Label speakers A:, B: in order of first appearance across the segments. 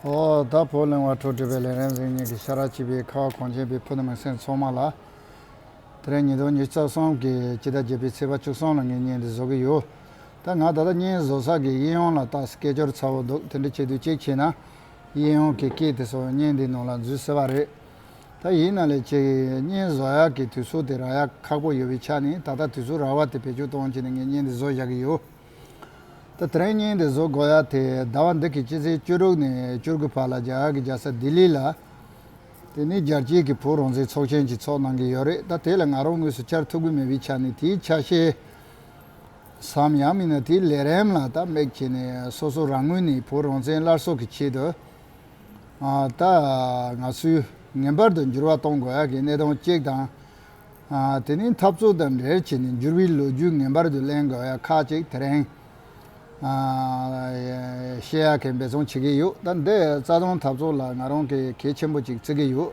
A: ཨོ་ད་བོ་གླེང་བ་འཕྲོ་འདྲུད་པའི་ལན་རེམ་རིང་གཉིད་ཀྱི་ཤ་ར་གཅིག་པའི་ཁ་བ་གངས་ཅན་པའི་ཕུ་ནུ་མི་སེར་ཚོགས་མང་ལ། དེ་རིང་ཉིན་དང་ཉིས་བརྩེགས་གསུམ་གྱི་དཔྱིད་ཟླ་བརྒྱད་པའི་ཚེས་པ་བཅུ་གསུམ་ལ་ངས་བརྙན་འདི་བཟོ་གི་ཡོད། ད་ང་ད་ལྟ་བརྙན་བཟོ་ཚགས་ཀྱི་དབྱིན་ཡོང་ལ་བཏགས་སྐད་ཅོར་ཚ་བོ་འདུག་དེ་འདྲ་བྱེད་དུས་གཅིག་བྱས་ན་དབྱིན་ཡོང་གི་སྐད་དེ་ཚོ་བརྙན་འདིའི་ནང་ལ་འཛུལ་སྲིད་པ་རེད། ད་ཡིན་ན་ལས་བྱེད་ཀྱི་བརྙན་བཟོ་ཡག་གི་དུས་ཚོད་དེ་རག་ཡག་ཁག་པོ་ཡོད་པའི་ཆ་ནས་ད་ལྟ་དུས་ཚོད་རག་བ་དེ་བེད་སྤྱོད་གཏོང་བྱས་ནས་ངས་བརྙན་འདི་བཟོ་བཞག་གི་ཡོད། ད་ཐེངས་ཉིན་དེ་བཟོ་དགོས་ཡ་དེ་ཟླ་བ་འདི་གི་སྤྱི་ཚེས་བཅུ་དྲུག་ནས་བཅུ་དགུ་བར་ལ་རྒྱ་གར་གྱི་རྒྱལ་ས་ལྡི་ལི་ལ། དེ་ནི་རྒྱལ་སྤྱིའི་གི་བོད་རང་བཙན་ཚོགས་ཆེན་གྱི་ཚོགས་གནང་གི་ཡོད་རེད་ད་དེ་ལ་ང་རང་དངོས་སུ་བཅར་ཐུབ་གི་མེད་པའི་ཆ་ནས་དེའི་ཆ་ཤས་སམ་ཡང་མིན་ན་དེའི་ལས་རེམ་ལ་ད་མེག་བྱས་ནས་སོ་སོ་རང་ངོས་ནས་བོད་རང་བཙན་སླར་གསོ་གི་ཆེད་དུ། ད་ང་ཚོས་ངེས་པར་དུ་འགྱུར་བ་གཏོང་དགོས་ཡ་གི་གནས་སྟངས་གཅིག་དང། དེ་ནི་འཐབ་རྩོད་དང་འབྲེལ་བྱས་ནས་འགྱུར་བའི་ལོ་རྒྱུས་ངེས་པར་དུ་གླེང་དགོས་ཡ་ཁག་ཅིག་དེ་རིང་ཤེས་ཡག་གིས་འབད་བརྩོན་བྱེད་ཀྱི་ཡོད་ད་འདི་རྩ་དོན་འཐབ་རྩོད་ལ་ང་རང་གིས་གལ་ཆེན་པོ་ཅིག་བརྩི་གི་ཡོད།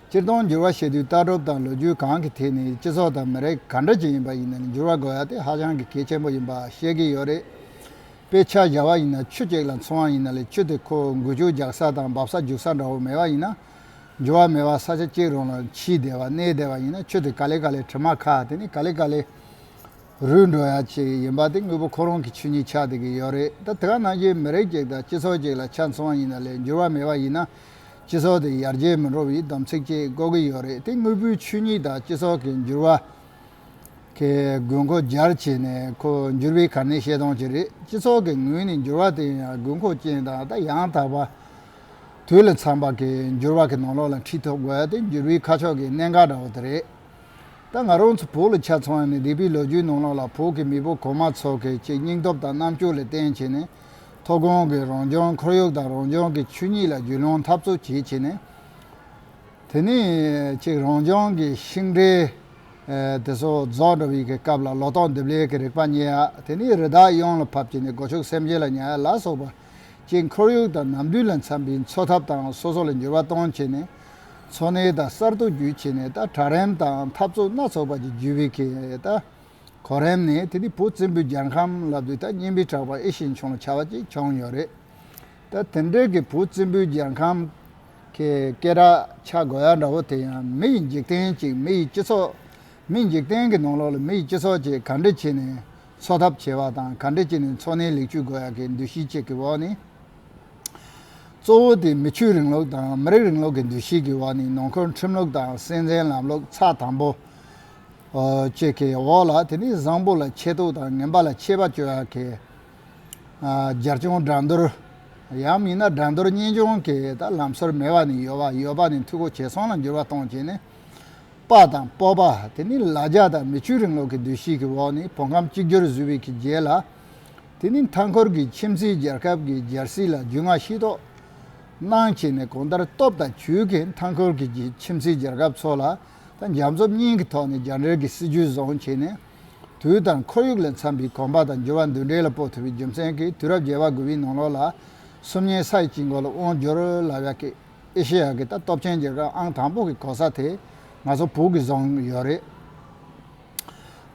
A: སྤྱིར་བཏང་འགྱུར་བ་བྱེད་དུས་ལྟ་གྲུབ་དང་ལོ་རྒྱུས་གང་གི་ཐད་ནས་སྤྱི་ཚོགས་དང་མི་རིགས་ག་འདྲ་ཞིག་ཡིན་པ་ཡིན་ནའི་འགྱུར་བ་དགོས་ཡ་དེ་ཧ་ཅང་གི་གལ་ཆེན་པོ་ཡིན་པ་ཤེས་ཀྱི་ཡོད་རེད། དཔེ་ཆ་བཞག་བ་ཡིན་ན་ཆུ་གཅིག་ལ་འཚོ་བ་ཡིན་ན་ལས་ཆུ་དེ་ཁོ་འགུལ་ཆུ་རྒྱག་ས་དང་འབབ་ས་རྒྱུག་ས་འདྲ་བོ་མེད་པ་ཡིན་ན། འབྱོར་བ་མེད་པར་ས་ཆ་སྐྱེལ་རུང་ལ་འཆི་བདེ་བ་གནས་བདེ་བ་ཡིན་ན་ཁྱོད་དེ་ག་ལེ་ག་ལེ་དྲི་མ་ཁ་དེ་ནི་ག་ལེ་ག་ལེ་རུལ་འགྲོ་ཡ་ཅིག་ཡིན་པ་དེ་དངོས་པོ་ཁོ་རང་གི་ཆོས་ཉིད་ཆགས་བསྡད་ཀྱི་ཡོད་རེད་ད་དེ་ག་ནང་བཞིན་མི་རིགས་ཅིག་དང་སྤྱི་ཚོགས་ཅིག་ལ་ཆ་མཚུངས་བ་ཡིན་ན་ལས་འགྱུར་བ་མེད་པ་ཡིན་ན་སྤྱི་ཚོགས་དེ་ཡར་རྒྱས་མི་འགྲོ་བའི་སྡོམ་ཚིག་ཅིག་བཀོད་ཀྱི་ཡོད་རེད་དེ་དངོས་པོའི་ཆོས་ཉིད་དང་སྤྱི་ཚོགས་ཀྱི་འགྱུར་བ་གི་དགོས་མཁོ་སྦྱར་བྱས་ནས་ཁོ་འགྱུར་བའི་གར་སྣེ་བཤད་སྟངས་ཅིག་རེད་སྤྱི་ཚོགས་ཀྱི་ངོས་ནས་འགྱུར་བ་དེ་ཡང་དགོས་མཁོ་ཅན་དང་ད་ཡང་དག་པ། དུས་ལ་འཚམས་པ་གི་འགྱུར་བག་གི་ནང་ལོགས་ལ་འཁྲིད་ཐུབ་དགོས་དེ་འགྱུར་བའི་ཁ་ཕྱོགས་ཀྱི་གནད་འགག་འདྲ་བོ་དེ་རེད། ད་ང་རང་ཚོ་བོད་ལ་ཆ་ཚང་བ་ནི་རིག་པའི་ལོ་རྒྱུས་ནང་ལོགས་ལ་བོད་ཀྱི་མི་བུ་གོང་མ་ཚོ་གི་ཆེས་སྙིང་སྟོབས་དང་རྣམ་དཔྱོད་ལ་བརྟེན་བྱས་ནས་མཐོ་སྒང་གི་རང་བྱུང་ཁོར་ཡུག་དང་རང་བྱུང་གི་ཆོས་ཉིད་ལ་རྒྱུས་ལོན་འཐབ་རྩོད་བྱེད་བྱས་ནས། དེ་ནས་ཅིག་རང་བྱུང་གི་ཤིང་འབྲས་དེ་ཚོ་རྫོགས་འགྲོ་བའི་གི་སྐབས་ལ་ལོ་ཏོག་འདེབས་ལས་ཀྱི་རིག་པ་རྙེད་ཡ་དེ་ནས་རི་དྭགས་གཡང་ལ་ཕབ་བྱས་ནས་སྒོ་ཕྱུགས་སེམས་ཅན་ལ་ཉར་ཡ་ལ་སོགས་པ། སྤྱིའི་ཁོར་ཡུག་དང་ནམ་དུས་ལ་འཚམ་པའི་འཚོ་ཐབས་དང་སོ་སོ་ལ་འགྱུར་བ་གཏོང་ཆེད་ནས། འཚོ་གནས་དང་གསར་གཏོད་བརྒྱུད་ཆེད་ནས་ད་དྲ་རེམ་དང་འཐབ་རྩོད་སྣ་ཚོགས་པ་ཅིག་བརྒྱུད་བས་ཁེ་ད་གོ་རེམ་ནས་དེ་དུས་བོད་བཙན་པོའི་རྒྱལ་ཁམས་ལ་དུས་ད་སྙན་པའི་གྲགས་པ་ཨེ་ཤེས་བྱུང་ལ་བྱ་བ་ཅིག་བྱུང་ཡོད་རེད། ད་དེ་འདྲའི་གི་བོད་བཙན་པོའི་རྒྱལ་ཁམས་ཀྱི་སྐད་གྲགས་ཆ་དགོས་ཡ་འདྲ་བོ་དེ་ཡང་མི་ཡི་འཇིག་རྟེན་ཅིག་མི་ཡི་སྤྱི་ཚོགས། མི་འཇིག་རྟེན་གྱི་ནང་ལོགས་ལ་མི་ཡི་སྤྱི་ཚོགས་ཅིག་ག་འདྲ་བྱས་ནས་འཚོ་ཐབས་བྱེད་པ་དང་ག་འདྲ་བྱས་ནས་འཚོ་གནས་ལེགས་བཅོས་དགོས་ཡག་གི་འདུ་ཤེས་བཅས་ཀྱི་འོག་ནས། གཙོ་བོ་དེ་མི་ཆོས་རིང་ལུགས་དང་མི་རིགས་རིང་ལུགས་ཀྱི་འདུ་ཤེས་ཀྱི་འོག་ནས་ནང་འཁུལ་ཁྲིམས་ལུགས་དང་སྲིད་འཛིན་ལམ་ལུགས་ཚགས་དམ་པོ་བཅས་ཀྱི་འོག་ལ་དེ་ནས་བཟང་པོ་ལ་ཆེ་མཐོ་དང་ངན་པ་ལ་ཆེ་བ་བཅོས་ཡག་གི་སྦྱར་བྱུང་དགྲ་འདུལ། ཡང་མིན་ན་དགྲ་འདུལ་གཉེན་སྐྱོང་གི་ལམ་སྲོལ་མེད་པ་ནས་ཡོད་པ་ཡོད་པ་ནས་འཐུས་སྒོ་ཇེ་ཚང་ལ་འགྱུར་བ་གཏོང་བྱས་ནས། དཔའ་དང་སྤོབས་པ་དེ་ནི་ལ་རྒྱ་དང་མི་ཆོས་རིང་ལུགས་ཀྱི་འདུ་ཤེས་ཀྱི་འོག་ནས་བོད་ཁམས་གཅིག་གྱུར་བཟོས་པའི་གི་རྗེས་ལ། དེ་ནི་མཐའ་འཁོར་གྱི་ཁྱིམ་མཚེས་རྒྱལ་ཁབ་ཀྱི་རྒྱལ་སྲིད་ལ་རྒྱུས་མངའ་ཤེས་རྟོགས་གནང་བྱས་ནས་གོང་ལྟར་སྟོབས་དང་བྱུས་ཀྱིས་མཐའ་འཁོར་གྱི་ཁྱིམ་མཚེས་རྒྱལ་ཁབ་ཚོ་ལ་དང་རྒྱ་མཚོ་གཉིས་ཀྱི་ཐོག་ནས་རྒྱ་འདྲེར་གྱི་སྲིད་ཇུས་བཟུང་བྱས་ནས། དུས་དང་ཁོར་ཡུག་ལས་འཚམས་པའི་གོམ་པ་དང་འགྱུར་བ་འདུ་འབྲེལ་ལ་སྤོ་ཐུབ་པའི་རྒྱུ་མཚན་གྱིས་དུས་རབས་བརྒྱད་པ་དགུ་བའི་ནང་ལོགས་ལ་སུམ་ཉའི་ས་ཡི་དཀྱིལ་འཁོར་ལ་དབང་བསྒྱུར་ལ་བས་ཀྱི། ཨེ་ཤེ་ཡ་གི་ད་སྟོབས་ཆེན་རྒྱལ་ཁབ་ཨང་དང་པོ་གི་གོ་ས་དེ་ང་ཚོ་བོད་ཀྱིས་བཟུང་ཡོད་རེད།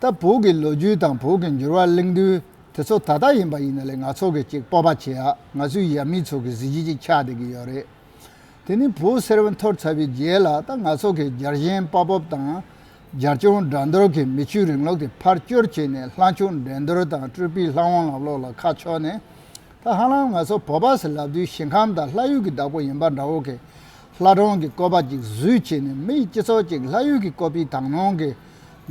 A: ད་བོད་ཀྱི་ལོ་རྒྱུས་དང་བོད་ཀྱི་འགྱུར་བ་གླེང་དུས་དེ་ཚོ་ད་ལྟ་ཡིན་པ་ཡིན་ན་ལས་ང་ཚོ་གིས་ཅིག་སྤོབས་པ་བྱེད་ཡ་ང་ཚོའི་ཡབ་མེས་ཚོ་གི་གཟི་བརྗིད་ཅིག་ཆགས་བསྡད་ཀྱི་ཡོད་རེད། དེ་ནི་བོད་གསེར་བུ་འཐོར་ཚར་བའི་རྗེས་ལ་ད་ང་ཚོ་གིས་རྒྱལ་ཞེན་དཔའ་སྤོབས་དང་རྒྱལ་སྐྱོང་དགྲ་འདོལ་གྱི་མི་ཆོས་རིང་ལུགས་དེ་ཕར་སྐྱོར་བྱས་ནས་ལྷ་མཆོག་འགྲན་བསྡུར་དང་སྤྲུལ་པའི་ལྷ་དབང་ལམ་ལོག་ལ་ཁ་ཕྱོགས་ནས་ད་ཧ་ལམ་ང་ཚོ་བོད་པ་ཟེར་ལབ་དུས་ཞིང་ཁམས་དང་ལྷ་ཡུལ་གྱི་བདག་པོ་ཡིན་པ་འདྲ་བོ་གས། ལྷ་སྒྲུང་གི་བཀོད་པ་གཅིག་བཟོས་བྱས་ནས་མི་ཡི་སྤྱི་ཚོགས་ཅིག་ལྷ་ཡུལ་གྱི་བཀོད་པའི་དག་སྣང་གིས་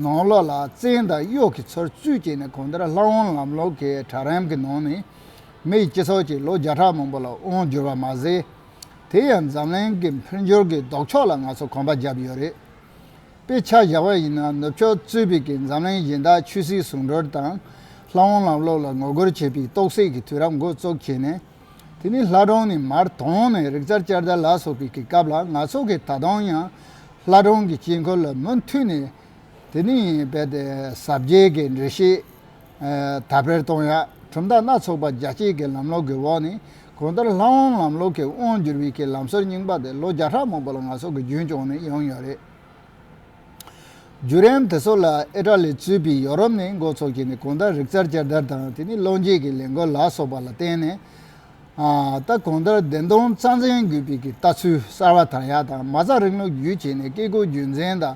A: ནང་བློ་ལ་བཙན་དང་གཡོག་གིས་ཚུར་བཙུད་བྱས་ནས་གོང་དེར་ལྷ་དབང་ལམ་ལུགས་ཀྱི་གྲལ་རིམ་གྱི་ནང་ནས་མི་ཡི་སྤྱི་ཚོགས་ཅིག་ལོ་བརྒྱ་ཕྲག་མང་པོ་ལ་དབང་བསྒྱུར་བ་མ་ཟད། དེ་ཡང་འཛམ་གླིང་གི་འཕེལ་འགྱུར་གྱི་ལྡོག་ཕྱོགས་ལ་ང་ཚོ་གོམ་པ་བརྒྱབ་ཡོད་རེད། དཔེ་ཆ་བཞག་པ་ཡིན་ན་ནུབ་ཕྱོགས་གཙོས་པའི་ཀྱི་འཛམ་གླིང་གཞན་དག་ཆོས་སྲིད་ཟུང་སྒྲོལ་དང། ལྷ་འོང་ལམ་ལོག་ལ་ངོ་རྒོལ་བྱེད་པའི་རྟོག་སད་ཀྱི་དུས་རབས་འགོ་བཙོག་བྱས་ནས། དེ་ནི་ལྷ་སྒྲུང་ནི་མར་དོང་ནས་རིག་རྩལ་བསྐྱར་དར་ལ་སོགས་པའི་ཀྱི་སྐབས་ལ་ང་ཚོ་གིས་ད་དུང་ཡང་ལྷ་སྒྲུང་གི་དཀྱིལ་འཁོར་ལ་མུ་མཐུད་ནས་དེ་ནི་ཡིན་རྦད་དེ་ཟབ་རྒྱས་ཀྱི་འགྲེལ་བཤད་དར་སྤེལ་གཏོང་ཡག་གྲུབ་མཐའ་སྣ་ཚོགས་པ་རྒྱ་སྐྱེད་ཀྱི་ལམ་ལོག་གི་འོག་ནས་གང་ལྟར་ལྷ་དབང་ལམ་ལོག་གི་དབང་བསྒྱུར་བའི་ཀྱི་ལམ་སྲོལ་རྙིང་པ་དེ་ལོ་བརྒྱ་ཕྲག་མང་པོ་ལ་ང་ཚོ་གི་རྒྱུན་བསྐྱངས་ནས་ཡོང་ཡོད་རེད། བརྒྱུད་རིམ་དེ་ཚོ་ལ་ཨེ་ཀྲ་ལི་གཙོས་པའི་ཡོ་རོབ་ནས་མགོ་ཚོགས་ཀྱིས་ནས་གང་ལྟར་རིག་རྩལ་བསྐྱར་དར་དང་དེ་ནས་བློ་འབྱེད་ཀྱི་ལས་འགུལ་ལ་སོགས་པ་ལ་བརྟེན་ནས། ད་གང་ལྟར་བདེན་སྟོང་རྩ་འཛིན་དགོས་པའི་ཀྱི་ལྟ་ཚུལ་གསར་བ་དར་ཡག་དང་མ་རྩ་རིང་ལུགས་བརྒྱུད་བྱས་ནས་བཀས་བཀོད་རྒྱུད་འཛིན་དང།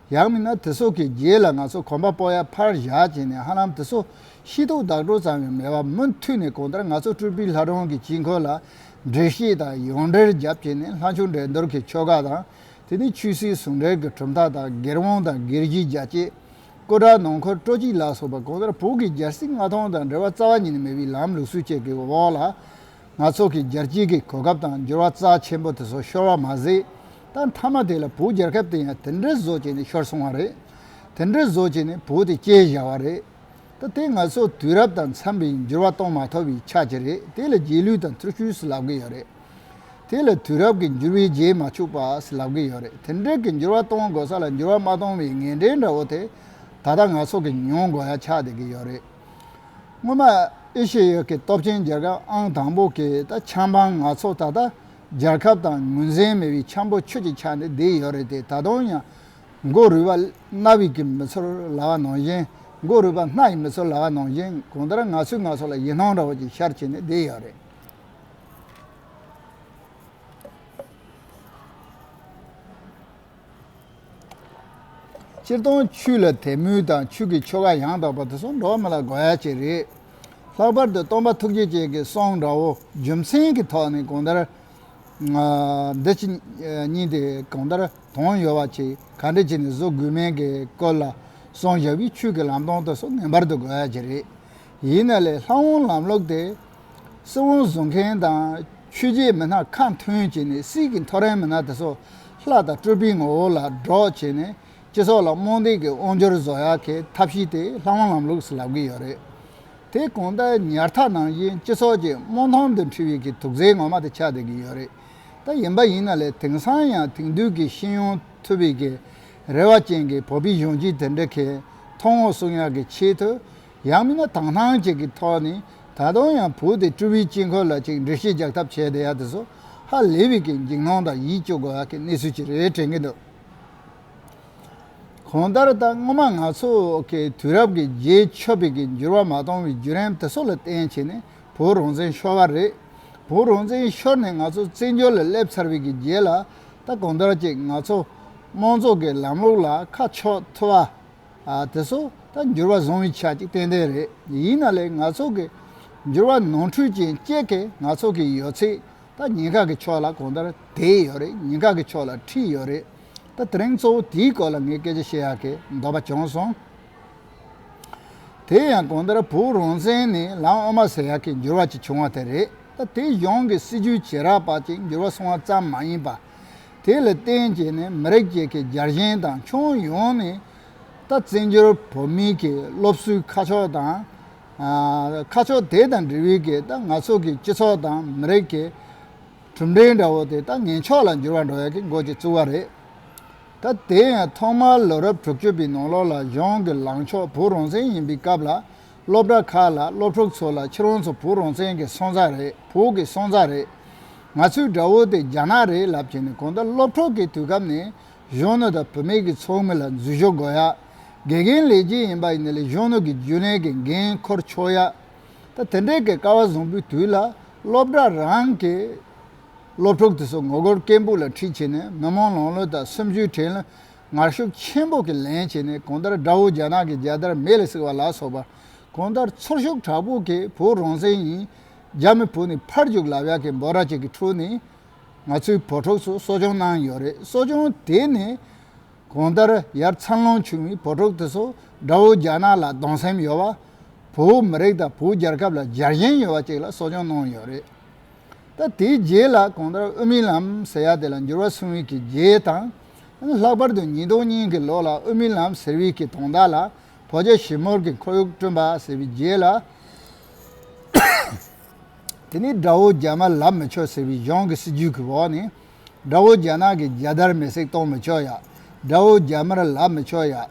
A: ཡང་མིན་ན་དེ་སོགས་ཀྱི་རྗེས་ལ་ང་ཚོ་གོམ་པ་སྤོ་ཡ་ཕར་བཞག་བྱས་ནས་ཧ་ལམ་དེ་སོགས་ཤེས་རྟོགས་བདག་སྤྲོ་ཙམ་ཡང་མེད་པར་མུ་མཐུད་ནས་གང་ལྟར་ང་ཚོ་སྤྲུལ་པའི་ལྷ་སྒྲུང་གི་དཀྱིལ་འཁོར་ལ་འགྲེལ་བཤད་དང་ཡང་འགྲེལ་རྒྱབ་བྱས་ནས་ལྷ་མཆོག་འགྲན་སྡུར་གྱི་ཆོ་ག་དང་དེ་ནས་ཆོས་སྲིད་ཟུང་འབྲེལ་གྱི་གྲུབ་མཐའ་དང་སྒེར་དབང་དང་སྒེར་གྱི་རྒྱ་བསྐྱེད། སྐུ་དྲག་ནང་འཁོར་སྤྲོ་སྐྱིད་ལ་སོགས་པ་གང་ལྟར་བོད་ཀྱི་སྦྱར་སྲིད་མངའ་ཐང་དང་འབྲེལ་བ་རྩ་བ་ཉིད་ནས་མེད་པའི་ལམ་ལུགས་སྲོལ་བཅས་ཀྱི་འོག་ལ། ང་ཚོ་གི་སྦྱར་སྐྱིད་ཀྱི་གོ་སྐབས་དང་འགྱུར་བ་རྩ་ཆེན་པོ་དེ་ཚོ་ཤོར་བ་མ་ཟད། ད་མཐའ་མ་དེ་ལ་བུ་རྒྱལ་ཁབ་དེ་ཡང་དེ་འདྲའི་བཟོ་བྱས་ནས་ཤོར་སོང་བ་རེད། དེ་འདྲའི་བཟོ་བྱས་ནས་བུ་དེ་སྐྱེས་བཞག་བ་རེད། ད་དེ་ང་ཚོ་དུས་རབས་དང་འཚམས་པའི་འགྱུར་བ་གཏོང་མ་ཐུབ་པའི་ཆ་དེ་རེད་དེ་ལ་རྗེས་ལུས་དང་ཐུར་ཤུལ་ཟེར་ལབ་གི་ཡོད་རེད། དེ་ལ་དུས་རབས་ཀྱི་འགྱུར་བའི་རྗེས་མ་ཕྱུག་པ་ཟེར་ལབ་གི་ཡོད་རེད་དེ་འདྲའི་གི་འགྱུར་བ་གཏོང་དགོས་ས་ལ་འགྱུར་བ་མ་གཏོང་བའི་ངན་འབྲས་འདྲ་བོ་དེ་ད་ལྟ་ང་ཚོ་གི་མྱོང་དགོས་ཡ་ཆགས་བསྡད་གི་ཡོད་རེད། སྔོན་མ་ཨེ་ཤེ་ཡོད་ཀྱི་སྟོབས་ཆེན་རྒྱལ་ཁབ་ཨང་དང་པོ་གིས་ད་ཆམ་པང་ང་ཚོ་ད་ལྟ་རྒྱལ་ཁབ་དང་ངོས་ཟིན་མེད་པའི་འཁྱམས་པོ་ཁྱོད་ཀྱི་ཆ་ནས་བསྡད་ཡོད་རེད་དེ་ད་དུང་ཡང། མགོ་རུས་པ་རྣ་བའི་གི་མི་ཚོར་ལ་བ་ནང་བཞིན། མགོ་རུས་པ་སྣ་ཡི་མི་ཚོར་ལ་བ་ནང་བཞིན་གང་ལྟར་ང་ཚོས་ང་ཚོ་ལ་ཡིད་སྣང་འདྲ་བོ་ཅིག་ཤར་བྱས་ནས་བསྡད་ཡོད་རེད། སྤྱིར་བཏང་ཆུ་ལ་དད་མོས་དང་ཆུ་གི་ཆོ་ག་ཡང་དག་པ་དེ་ཚོ་འགྲོགས་མི་ལ་དགོས་ཡ་གཅིག་རེད། ལྷག་པར་དུ་སྟོང་པ་ཐུགས་རྗེ་ཅན་གྱི་གསང་འདྲ་བོ་རྒྱུ་མཚན་གྱི་ཐོག་ནས་གང་ལྟར། འདི་ཕྱི་གཉིས་དེ་གང་ལྟར་དོན་ཡོད་པ་ཅིག་ག་འདྲས་བྱས་ནས་བཟོ་དགོས་མིན་གྱི་སྐོར་ལ་གསང་བཞག་པའི་ཆུ་གི་ལམ་སྟོན་དེ་ཚོ་ངེས་པར་དུ་དགོས་ཡ་གཅིག་རེད། ཡིན་ན་ལས་ལྷ་དབང་ལམ་ལོག་སྟེ། སྲིད་དབང་བཟུང་མཁན་དང་ཆོས་རྗེའི་མི་སྣ་ཁ་མཐུན་བྱས་ནས་སྲིད་ཀྱི་མཐོ་རན་མི་སྣ་དེ་ཚོ་ལྷ་དང་སྤྲུལ་པའི་ངོ་བོ་ལ་སྒྲོག་བྱས་ནས་སྤྱི་ཚོགས་ལ་རྨོངས་དད་ཀྱི་དབང་སྒྱུར་བཟོ་ཡ་གི་ཐབས་ཤེས་དེ་ལྷ་དབང་ལམ་ལུགས་སུ་ལབ་གི་ཡོད་རེད། དེ་གོང་ད་ཉར་ཐག་ནང་བཞིན་སྤྱི་ཚོགས་ཀྱི་རྨོངས་ཐང་དུ་འཁྲིད་བའི་གི་དུག་རྫས་ངོ་མ་དེ་ཆགས་བསྡད་གི་ཡོད་རེད། ད་ཡིན་པ་ཡིན་ན་ལས་དེང་སང་ཡང་དེང་དུས་ཀྱི་ཤེས་ཡོང་ཐུབ་པའི་གི་རེ་བ་ཅན་གྱི་བོད་པའི་གཞོན་སྐྱེས་དེ་འདྲ་གི་མཐོང་ངོ་གསུང་ཡ་གི་ཆེད་དུ་ཡང་མིན་ན་དྭངས་སྣང་ཅིག་གི་ཐོག་ནས་ད་དུང་ཡང་བོད་དེ་སྤྲུལ་བའི་དཀྱིལ་འཁོར་ལ་ཅིག་འདྲི་གཞི་རྒྱག་ཐབས་བྱས་བསྡད་ཡ་དེ་ཚོ་ཧ་ལས་པའི་གི་འཇིགས་སྣང་དང་ཡིད་སྐྱོ་དགོས་ཡ་གི་གནས་ཚུལ་ཅིག་རེད་དྲན་གི་འདུག་གང་ལྟར་ད་སྔོན་མ་ང་ཚོ་གི་དུས་རབས་ཀྱི་རྗེས་ཆོད་པའི་གི་འགྱུར་བ་མ་གཏོང་བའི་བརྒྱུད་རིམ་དེ་ཚོ་ལ་བརྟེན་བྱས་ནས་བོད་རང་བཙན་ཤོར་བ་རེད། བོད་རང་བཙན་ཤོར་ནས་ང་ཚོ་བཙན་བྱོལ་ལ་སླེབས་ཚར་བའི་གི་རྗེས་ལ་ད་གང་ལྟར་ཅིག་ང་ཚོ་དམངས་གཙོ་གི་ལམ་ལུགས་ལ་ཁ་ཕྱོགས་ཐུབ་བ། དེ་ཚོ་ད་འགྱུར་བ་བཟུང་བའི་ཆ་ཅིག་ཏན་ཏན་རེད་ཡིན་ན་ལེ་ང་ཚོ་གི་འགྱུར་བ་ནོར་འཁྲུལ་ཅན་སྐྱེད་མཁན་ང་ཚོ་གི་ཡོད་ཚད་ད་ཉེན་ཁ་གི་ཕྱོགས་ལ་གང་ལྟར་དེད་ཡོད་རེད་ཉེན་ཁ་གི་ཕྱོགས་ལ་ཁྲིད་ཡོད་རེད་ད་དེ་རིང་གཙོ་བོ་དེའི་སྐོར་ལ་ངས་སྐད་ཆ་བཤད་ཡག་གི་འདོད་པ་བྱུང་སོང། དེ་ཡང་གང་ལྟར་བོད་རང་བཙན་ནི་ལམ་དབུ་མ་ཟེར་ཡག་གི་འགྱུར་བ་ཅིག་བྱུང་བ་དེ་རེད་ད་དེ་གཞུང་གི་སྲིད་ཇུས་བྱེད་རག་པ་ཅིག་འགྱུར་བ་སོང་བ་ཙམ་མ་ཡིན་པ། དེ་ལ་བརྟེན་བྱས་ནས་མི་རིགས་གཅིག་གི་རྒྱལ་ཞེན་དང་ཁྱོན་ཡོངས་ནས་ད་བཙན་བྱོལ་བོད་མིའི་གི་སློབ་གསོའི་ཁ་ཕྱོགས་དང། ཁ་ཕྱོགས་དེ་དང་འབྲེལ་བའི་གི་ད་ང་ཚོ་གི་སྤྱི་ཚོགས་དང་མི་རིགས་གི་གྲུབ་འབྲས་འདྲ་བོ་དེ་ད་ངན་ཕྱོགས་ལ་འགྱུར་བ་འགྲོ་ཡག་གི་འགོ་ཅིག་བཙུགས་བ་རེད། ད་དེ་ཡང་ཐོག་མར་ལོ་རབས་དྲུག་ཅུ་པའི་ནང་ལོགས་ལ་གཞུང་གི་ལངས་ཕྱོགས་བོད་རང་བཙན་ཡིན་པའི་སྐབས་ལ་སློབ་གྲྭ་ཁག་ལ་སློབ་ཕྲུག་ཚོ་ལ་ཁྱི་རོང་ཚོ་བུ་རོང་བཙན་གྱི་སོང་ཙག་རེད་བོད་ཀྱི་སོང་ཙག་རེད། ང་ཚོའི་དགྲ་བོ་དེ་རྒྱ་ནག་རེད་ལབ་ཀྱི་ནི་གང་ལྟར་སློབ་གྲོགས་ཀྱི་དུས་སྐབས་ནས་གཞོན་ནུ་དང་བུད་མེད་ཀྱི་ཚོགས་མི་ལ་འཛུལ་ཞུགས་དགོས་ཡ། དགེ་རྒན་ལས་ཀྱི་ཡིན་པ་ཡིན་ན་ལས་གཞོན་ནུ་གྱི་རྒྱུན་ལས་ཀྱི་འགན་འཁུར་ཆོག་ཡ། ད་དེ་འདྲའི་གས་ཀ་བ་བཟང་པོའི་དུས་ལ་སློབ་གྲྭ་རང་གི་སློབ་ཕྲུག་དེ་ཚོ་ངོ་རྒོལ་སྐད་འབུག་ལ་ཁྲིད་བྱས་ནས་མི་མང་ལང་ལོ་དང་སུམ་ཅུའི་དྲན་ལ་ངར་ཤུགས་ཆེན་པོ་གིས་ལེན་བྱས་ནས་གང་ལྟར་དགྲ་བོ་རྒྱ་ནག་གི་རྒྱལ་དར་མེ་ལ་བསྲེགས་པ་ལ་སོགས་པ། གང་ལྟར་ཚུར་ཤུགས་དྲག་པོ་གིས་བོད་རང་བཙན་ཡིན། རྒྱ་མི་བོད་ནས་ཕར་རྒྱུག་ལབ་ཡག་གི་འབོད་ར་ཅིག་གི་ཁྲོད་ནས། ང་ཚོའི་བོད་ཕྲུག་ཚོ་གསོ་སྐྱོང་གནང་ཡོད་རེད་གསོ་སྐྱོང་དེ་ནས། གང་ལྟར་ཡར་འཚར་ལོངས་བྱུང་བའི་བོད་ཕྲུག་དེ་ཚོ་དགྲ་བོ་རྒྱ་ནག་ལ་སྡང་སེམས་ཡོད་པ། བོད་མི་རིགས་དང་བོད་རྒྱལ་ཁབ་ལ་རྒྱལ་གཞེན་ཡོད་པ་ཅིག་ལ་གསོ་སྐྱོང་གནང་ཡོད་རེད། ད་དེའི་རྗེས་ལ་གང་ལྟར་དབུ་མའི་ལམ་ཟེར་ཡག་དེ་ལ་འགྱུར་བ་སོང་བས་ཀྱི་རྗེས་དང། ལྷག་པར་དུ་ཉིས་སྟོང་ཉིན་གྱི་ལོ་ལ་ཨོ་མིན་ལམ་ཟེར་བིས་ཀྱི་དོང་དག་ལ་བོ་རྗ་ཞིབ་མོར་གྱི་འཁོར་ཡུག་བསྐྲུན་པ་ཟེར་བིའི་རྗེས་ལ། དེ་ནི་དགྲ་བོ་རྒྱ་མ་ལབ་མི་ཆོག་ཟེར་བིའི་གཞུང་གི་སྲིད་ཇུས་ཀྱི་འོག་ནས། དགྲ་བོ་རྒྱ་ནག་གི་རྒྱལ་དར་མེ་སྲེག་གཏོང་མི་ཆོག་ཡ། དགྲ་བོ་རྒྱ་དམར་ལབ་མི་ཆོག་ཡ།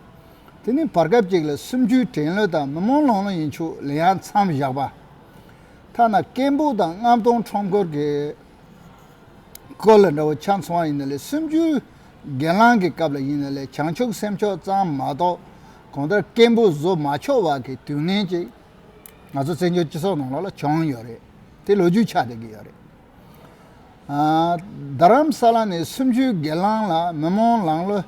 A: དེ་ནི་བར་སྐབས་ཅིག་ལ་སུམ་བཅུའི་དྲན་བློ་དང་མི་རྨོངས་ལོང་བློ་ཡིན་ཆུག་ལེ་ཡང་མཚམས་བཞག་པ། ཐ་ན་སྐད་འབོག་དང་རྔམ་སྟོང་ཁྲོམ་སྐོར་གྱི། ཀོ་ལ་འདྲ་བོ་ཆ་མཚུངས་བ་ཡིན་ན་ལས་སུམ་ཅུའི་རྒན་རླངས་ཀྱི་སྐབས་ལ་ཡིན་ན་ལས་བྱང་ཆུབ་སེམས་མཆོག་གཙང་མ་གཏོགས་གང་ལྟར་སྐད་འབོད་བཟོ་མ་ཆོག་བ་གི་དུས་ངན་ཅིག་ང་ཚོ་བཙན་བྱོལ་སྤྱི་ཚོགས་ནང་ལ་བྱུང་ཡོད་རེད་དེ་ལོ་རྒྱུས་ཆགས་བསྡད་ཀྱི་ཡོད་རེད། རྡ་རམ་ས་ལ་ནས་སུམ་ཅུའི་རྒན་རླངས་ལ་མི་རྨོངས་ལང་ལོ་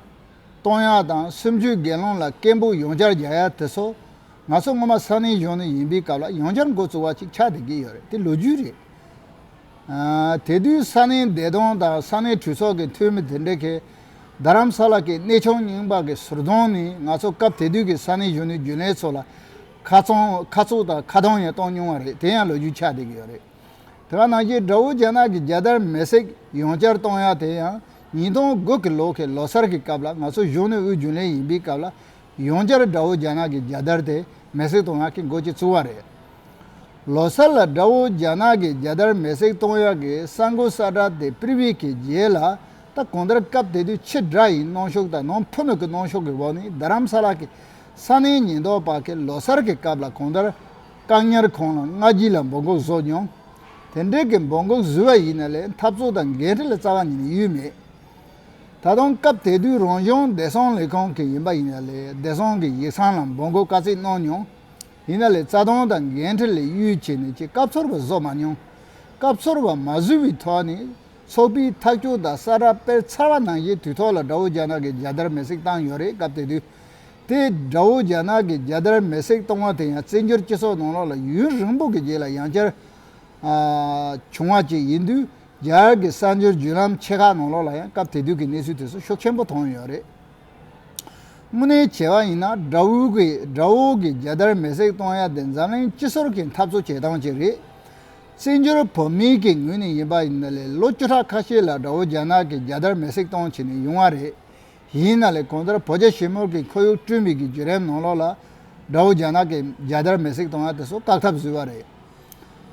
A: གཏོང་ཡག་དང་སུམ་ཅུའི་རྒན་རླངས་ལ་སྐད་འབོད་ཡོངས་བསྐྱར་རྒྱག་ཡག་དེ་ཚོ་ང་ཚོ་སྔོན་མ་ས་གནས་གཞུང་ནས་ཡིན་པའི་སྐབས་ལ་ཡོངས་བསྐྱར་འགོ་བཙུགས་བ་ཅིག་ཆགས་བསྡད་ཀྱི་ཡོད་རེད་དེ་ལོ་རྒྱུས་རེད། དེ་དུས་ས་གནས་བདེ་སྟོང་དང་ས་གནས་གྲོས་ཚོགས་ཀྱི་འཐུས་མི་དེ་འདྲ་གིས། རྡ་རམ་ས་ལ་གི་གནས་ཆུང་རྙིང་པ་གི་ཟུར་གདོང་ནི་ང་ཚོ་སྐབས་དེ་དུས་ཀྱི་ས་གནས་གཞོན་ནུའི་རྒྱུན་ལས་ཚོ་ལ་ཁ་ཚུགས་དང་ཁ་གཏོང་ཡང་གཏོང་མྱོང་བ་རེད་དེ་ཡང་ལོ་རྒྱུས་ཆགས་བསྡད་ཀྱི་ཡོད་རེད། དེ་ག་ནང་བཞིན་དགྲ་བོ་རྒྱ་ནག་གི་རྒྱལ་དར་མེ་བསྲེགས་ཡོང་བསྐྱར་གཏོང་ཡ་དེ་ཡང་ཉིས་སྟོང་དགུ་གི་ལོ་གི་ལོ་སར་གི་སྐབས་ལ་ང་ཚོ་གཞོན་ནུ་དབུས་རྒྱུན་ལས་ཡིན་པའི་སྐབས་ལ་ཡོངས་གྱར་དགྲ་བོ་རྒྱ་ནག་གི་རྒྱལ་དར་དེ་མེ་སྲེག་གཏོང་ཡག་གི་མགོ་ཅིག་བཙུགས་བ་རེད། ལོ་གསར་ལ་དགྲ་བོ་རྒྱ་ནག་གི་རྒྱལ་དར་མེ་སྲེག་གཏོང་ཡག་གི་ས་མགོ་ས་དགྲ་དེ་པིར་བྷི་གི་རྒྱལ་ལ་ད་གང་ལྟར་སྐབས་དེ་དུས་ཕྱི་དགྲ་ཡིན་གནོང་ཤུགས་དང་ནང་ཕུ་ནུ་གི་གནོང་ཤུགས་ཀྱི་འོག་ནས་རྡ་རམ་ས་ལ་གི་ས་གནས་ཉེན་རྟོག་པ་གིས་ལོ་གསར་གི་སྐབས་ལ་གང་ལྟར་བཀག་ཉར་ཁང་ལ་སྔ་རྗེས་ལ་འབོད་འགུག་བཟོས་མྱོང། དེ་འདྲའི་གི་འབོད་འགུག་བཟོས་བ་ཡིན་ན་ལས་འཐབ་རྩོད་དང་འགན་འཁྲི་ལས་རྩ་བ་ནས་ཡུལ་མེད། ད་དུང་སྐབས་དེ་དུས་རང་གཞུང་བདེ་སྲུང་ལས་ཁུངས་ཀྱི་ཡིན་པ་ཡིན་ཡ་ལས་བདེ་སྲུང་གི་ཡིག་ཚང་ལ་འབོད་འགུག་བཀའ་གཙིགས་གནང་མྱོང། ཡིན་ཡ་ལས་རྩ་དོན་དང་འགན་འཁྲི་ལས་གཡོལ་བྱས་ནས་ཀྱི་སྐབས་ཚོར་བ་བཟོ་མ་མྱོང། སྐབས་ཚོར་བ་མ་བཟོས་པའི་ཐོག་ནས་ཚོགས་པའི་ཐག་གཅོད་དང་ས་རཱ་སྤེལ་ཚར་བ་ནང་བཞིན་དུས་ཐོག་ལ་དགྲ་བོ་རྒྱ་ནག་གི་རྒྱལ་དར་མེ་བསྲེགས་བཏང་ཡོད་རེད་སྐབས་དེ་དུས་དེ་དགྲ་བོ་རྒྱ་ནག་གི་རྒྱལ་དར་མེ་བསྲེགས་བཏང་བ་དེ་ཡང་བཙན་བྱོལ་སྤྱི་ཚོགས་ནང་ལོགས་ལ་ཡུན་རིང་པོ་གི་རྗེས་ལ་ཡང་བསྐྱར་བྱུང་བ་ཅིག་ཡིན་དུས། རྒྱ་གར་གྱི་གསར་འབྱོར་བརྒྱུད་ལམ་ཆེ་ཁག་ནང་ལོགས་ལ་ཡང་སྐབས་དེ་དུས་ཀྱི་གནས་ཚུལ་དེ་ཚོ་ཤུགས་ཆེན་པོ་མཐོང་ཡོད་རེད། དངོས་གནས་བྱས་པ་ཡིན་ན་དགྲ་བོའི་གི་དགྲ་བོ་གི་རྒྱལ་དར་མེ་བསྲེགས་གཏོང་ཡ་དེ་འཛམ་གླིང་སྤྱི་ཟོར་གྱི་འཐབ་རྩོད་བྱེད་སྟངས་ཅིག་རེད། བཙན་བྱོལ་བོད་མིའི་གི་ངོས་ནས་ཡིན་པ་ཡིན་ན་ལས་ལོ་བཅུ་ཕྲག་ཁ་ཤས་ལ་དགྲ་བོ་རྒྱ་ནག་གི་རྒྱལ་དར་མེ་བསྲེགས་གཏོང་བྱེད་ནས་ཡོང་བ་རེད། ཡིན་ན་ལས་གོང་ལྟར་བོད་རྒྱ་ཞི་མོལ་གྱི་ཁོར་ཡུག་བསྐྲུན་མེད་གི་བརྒྱུད་རེམ་ནང་ལོགས་ལ་དགྲ་བོ་རྒྱ་ནག་གི་རྒྱལ་དར་མེ་བསྲེགས་གཏོང་ཡ་དེ་ཚོ་བཀག་ཐབས་བཟོས་པ་རེད།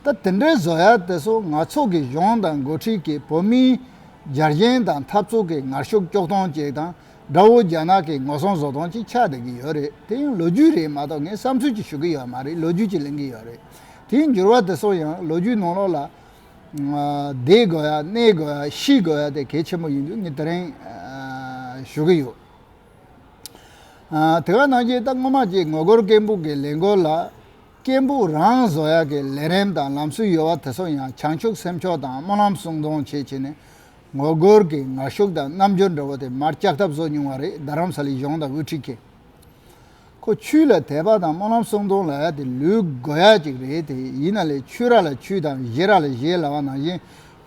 A: ད་དེ་འདྲའི་བཟོ་ཡག་དེ་ཚོ་ནག་ཚོགས་ཀྱི་གཞུང་དང་འགོ་ཁྲིད་ཀྱིས་བོད་མིའི་རྒྱ་རྒྱན་དང་འཐབ་རྩོད་ཀྱི་ངར་ཤུགས་སྐྱོག་སྟོང་ཅིག་དང་དགྲ་བོ་རྒྱ་ནག་གི་ངོ་སྲུང་བཟོ་སྟོང་ཅིག་ཆགས་བསྡད་ཀྱི་ཡོད་རེད་དེ་ཡང་ལོ་རྒྱུས་རེད་མ་གཏོགས་ངས་བསམ་ཚུལ་གྱི་ཞུ་གི་ཡོད་མ་རེད་ལོ་རྒྱུས་ཀྱི་གླེང་གི་ཡོད་རེད་དེའི་འགྱུར་བ་དེ་ཚོ་ཡང་ལོ་རྒྱུས་ནང་ལོགས་ལ། བསྡད་དགོས་ཡ་གནས་དགོས་ཡ་ཤི་དགོས་ཡ་དེ་གལ་ཆེན་པོ་ཡིན་དུས་ངས་དེ་རིང་ཞུ་གི་ཡོད། དེ་ག་ནང་བཞིན་ད་སྔོན་མ་གཅིག་ངོ་རྒོལ་སྐད་འབུག་གི་ལས་འགུལ་ལ། སྐད་འབུག་རང་བཟོ་ཡག་གི་ལས་རིམ་དང་ལམ་སྲོལ་ཡོད་བ་དེ་ཚོ་ཡང་བྱང་ཆུབ་སེམས་མཆོག་དང་སྨོན་ལམ་གསུང་གཏོང་བྱེད་བྱེད་ནས། ངོ་རྒོལ་གྱི་ངར་ཤུགས་དང་རྣམ་འགྱུར་འདྲ་བོ་དེ་མར་བཅག་ཐབས་བཟོ་མྱོང་བ་རེད་རྡ་རམ་ས་ལའི་གཞུང་དང་དབུ་ཁྲིད་ཀྱིས། ཁོ་ཆུ་ལ་དད་པ་དང་སྨོན་ལམ་གསུང་གཏོང་ལ་ཡག་དེ་ལུས་དགོས་ཡག་ཅིག་རེད་དེ་ཡིན་ན་ལས་ཆུ་རག་ལ་ཆུ་དང་གཞས་རག་ལ་གཞས་ལ་བ་ནང་བཞིན་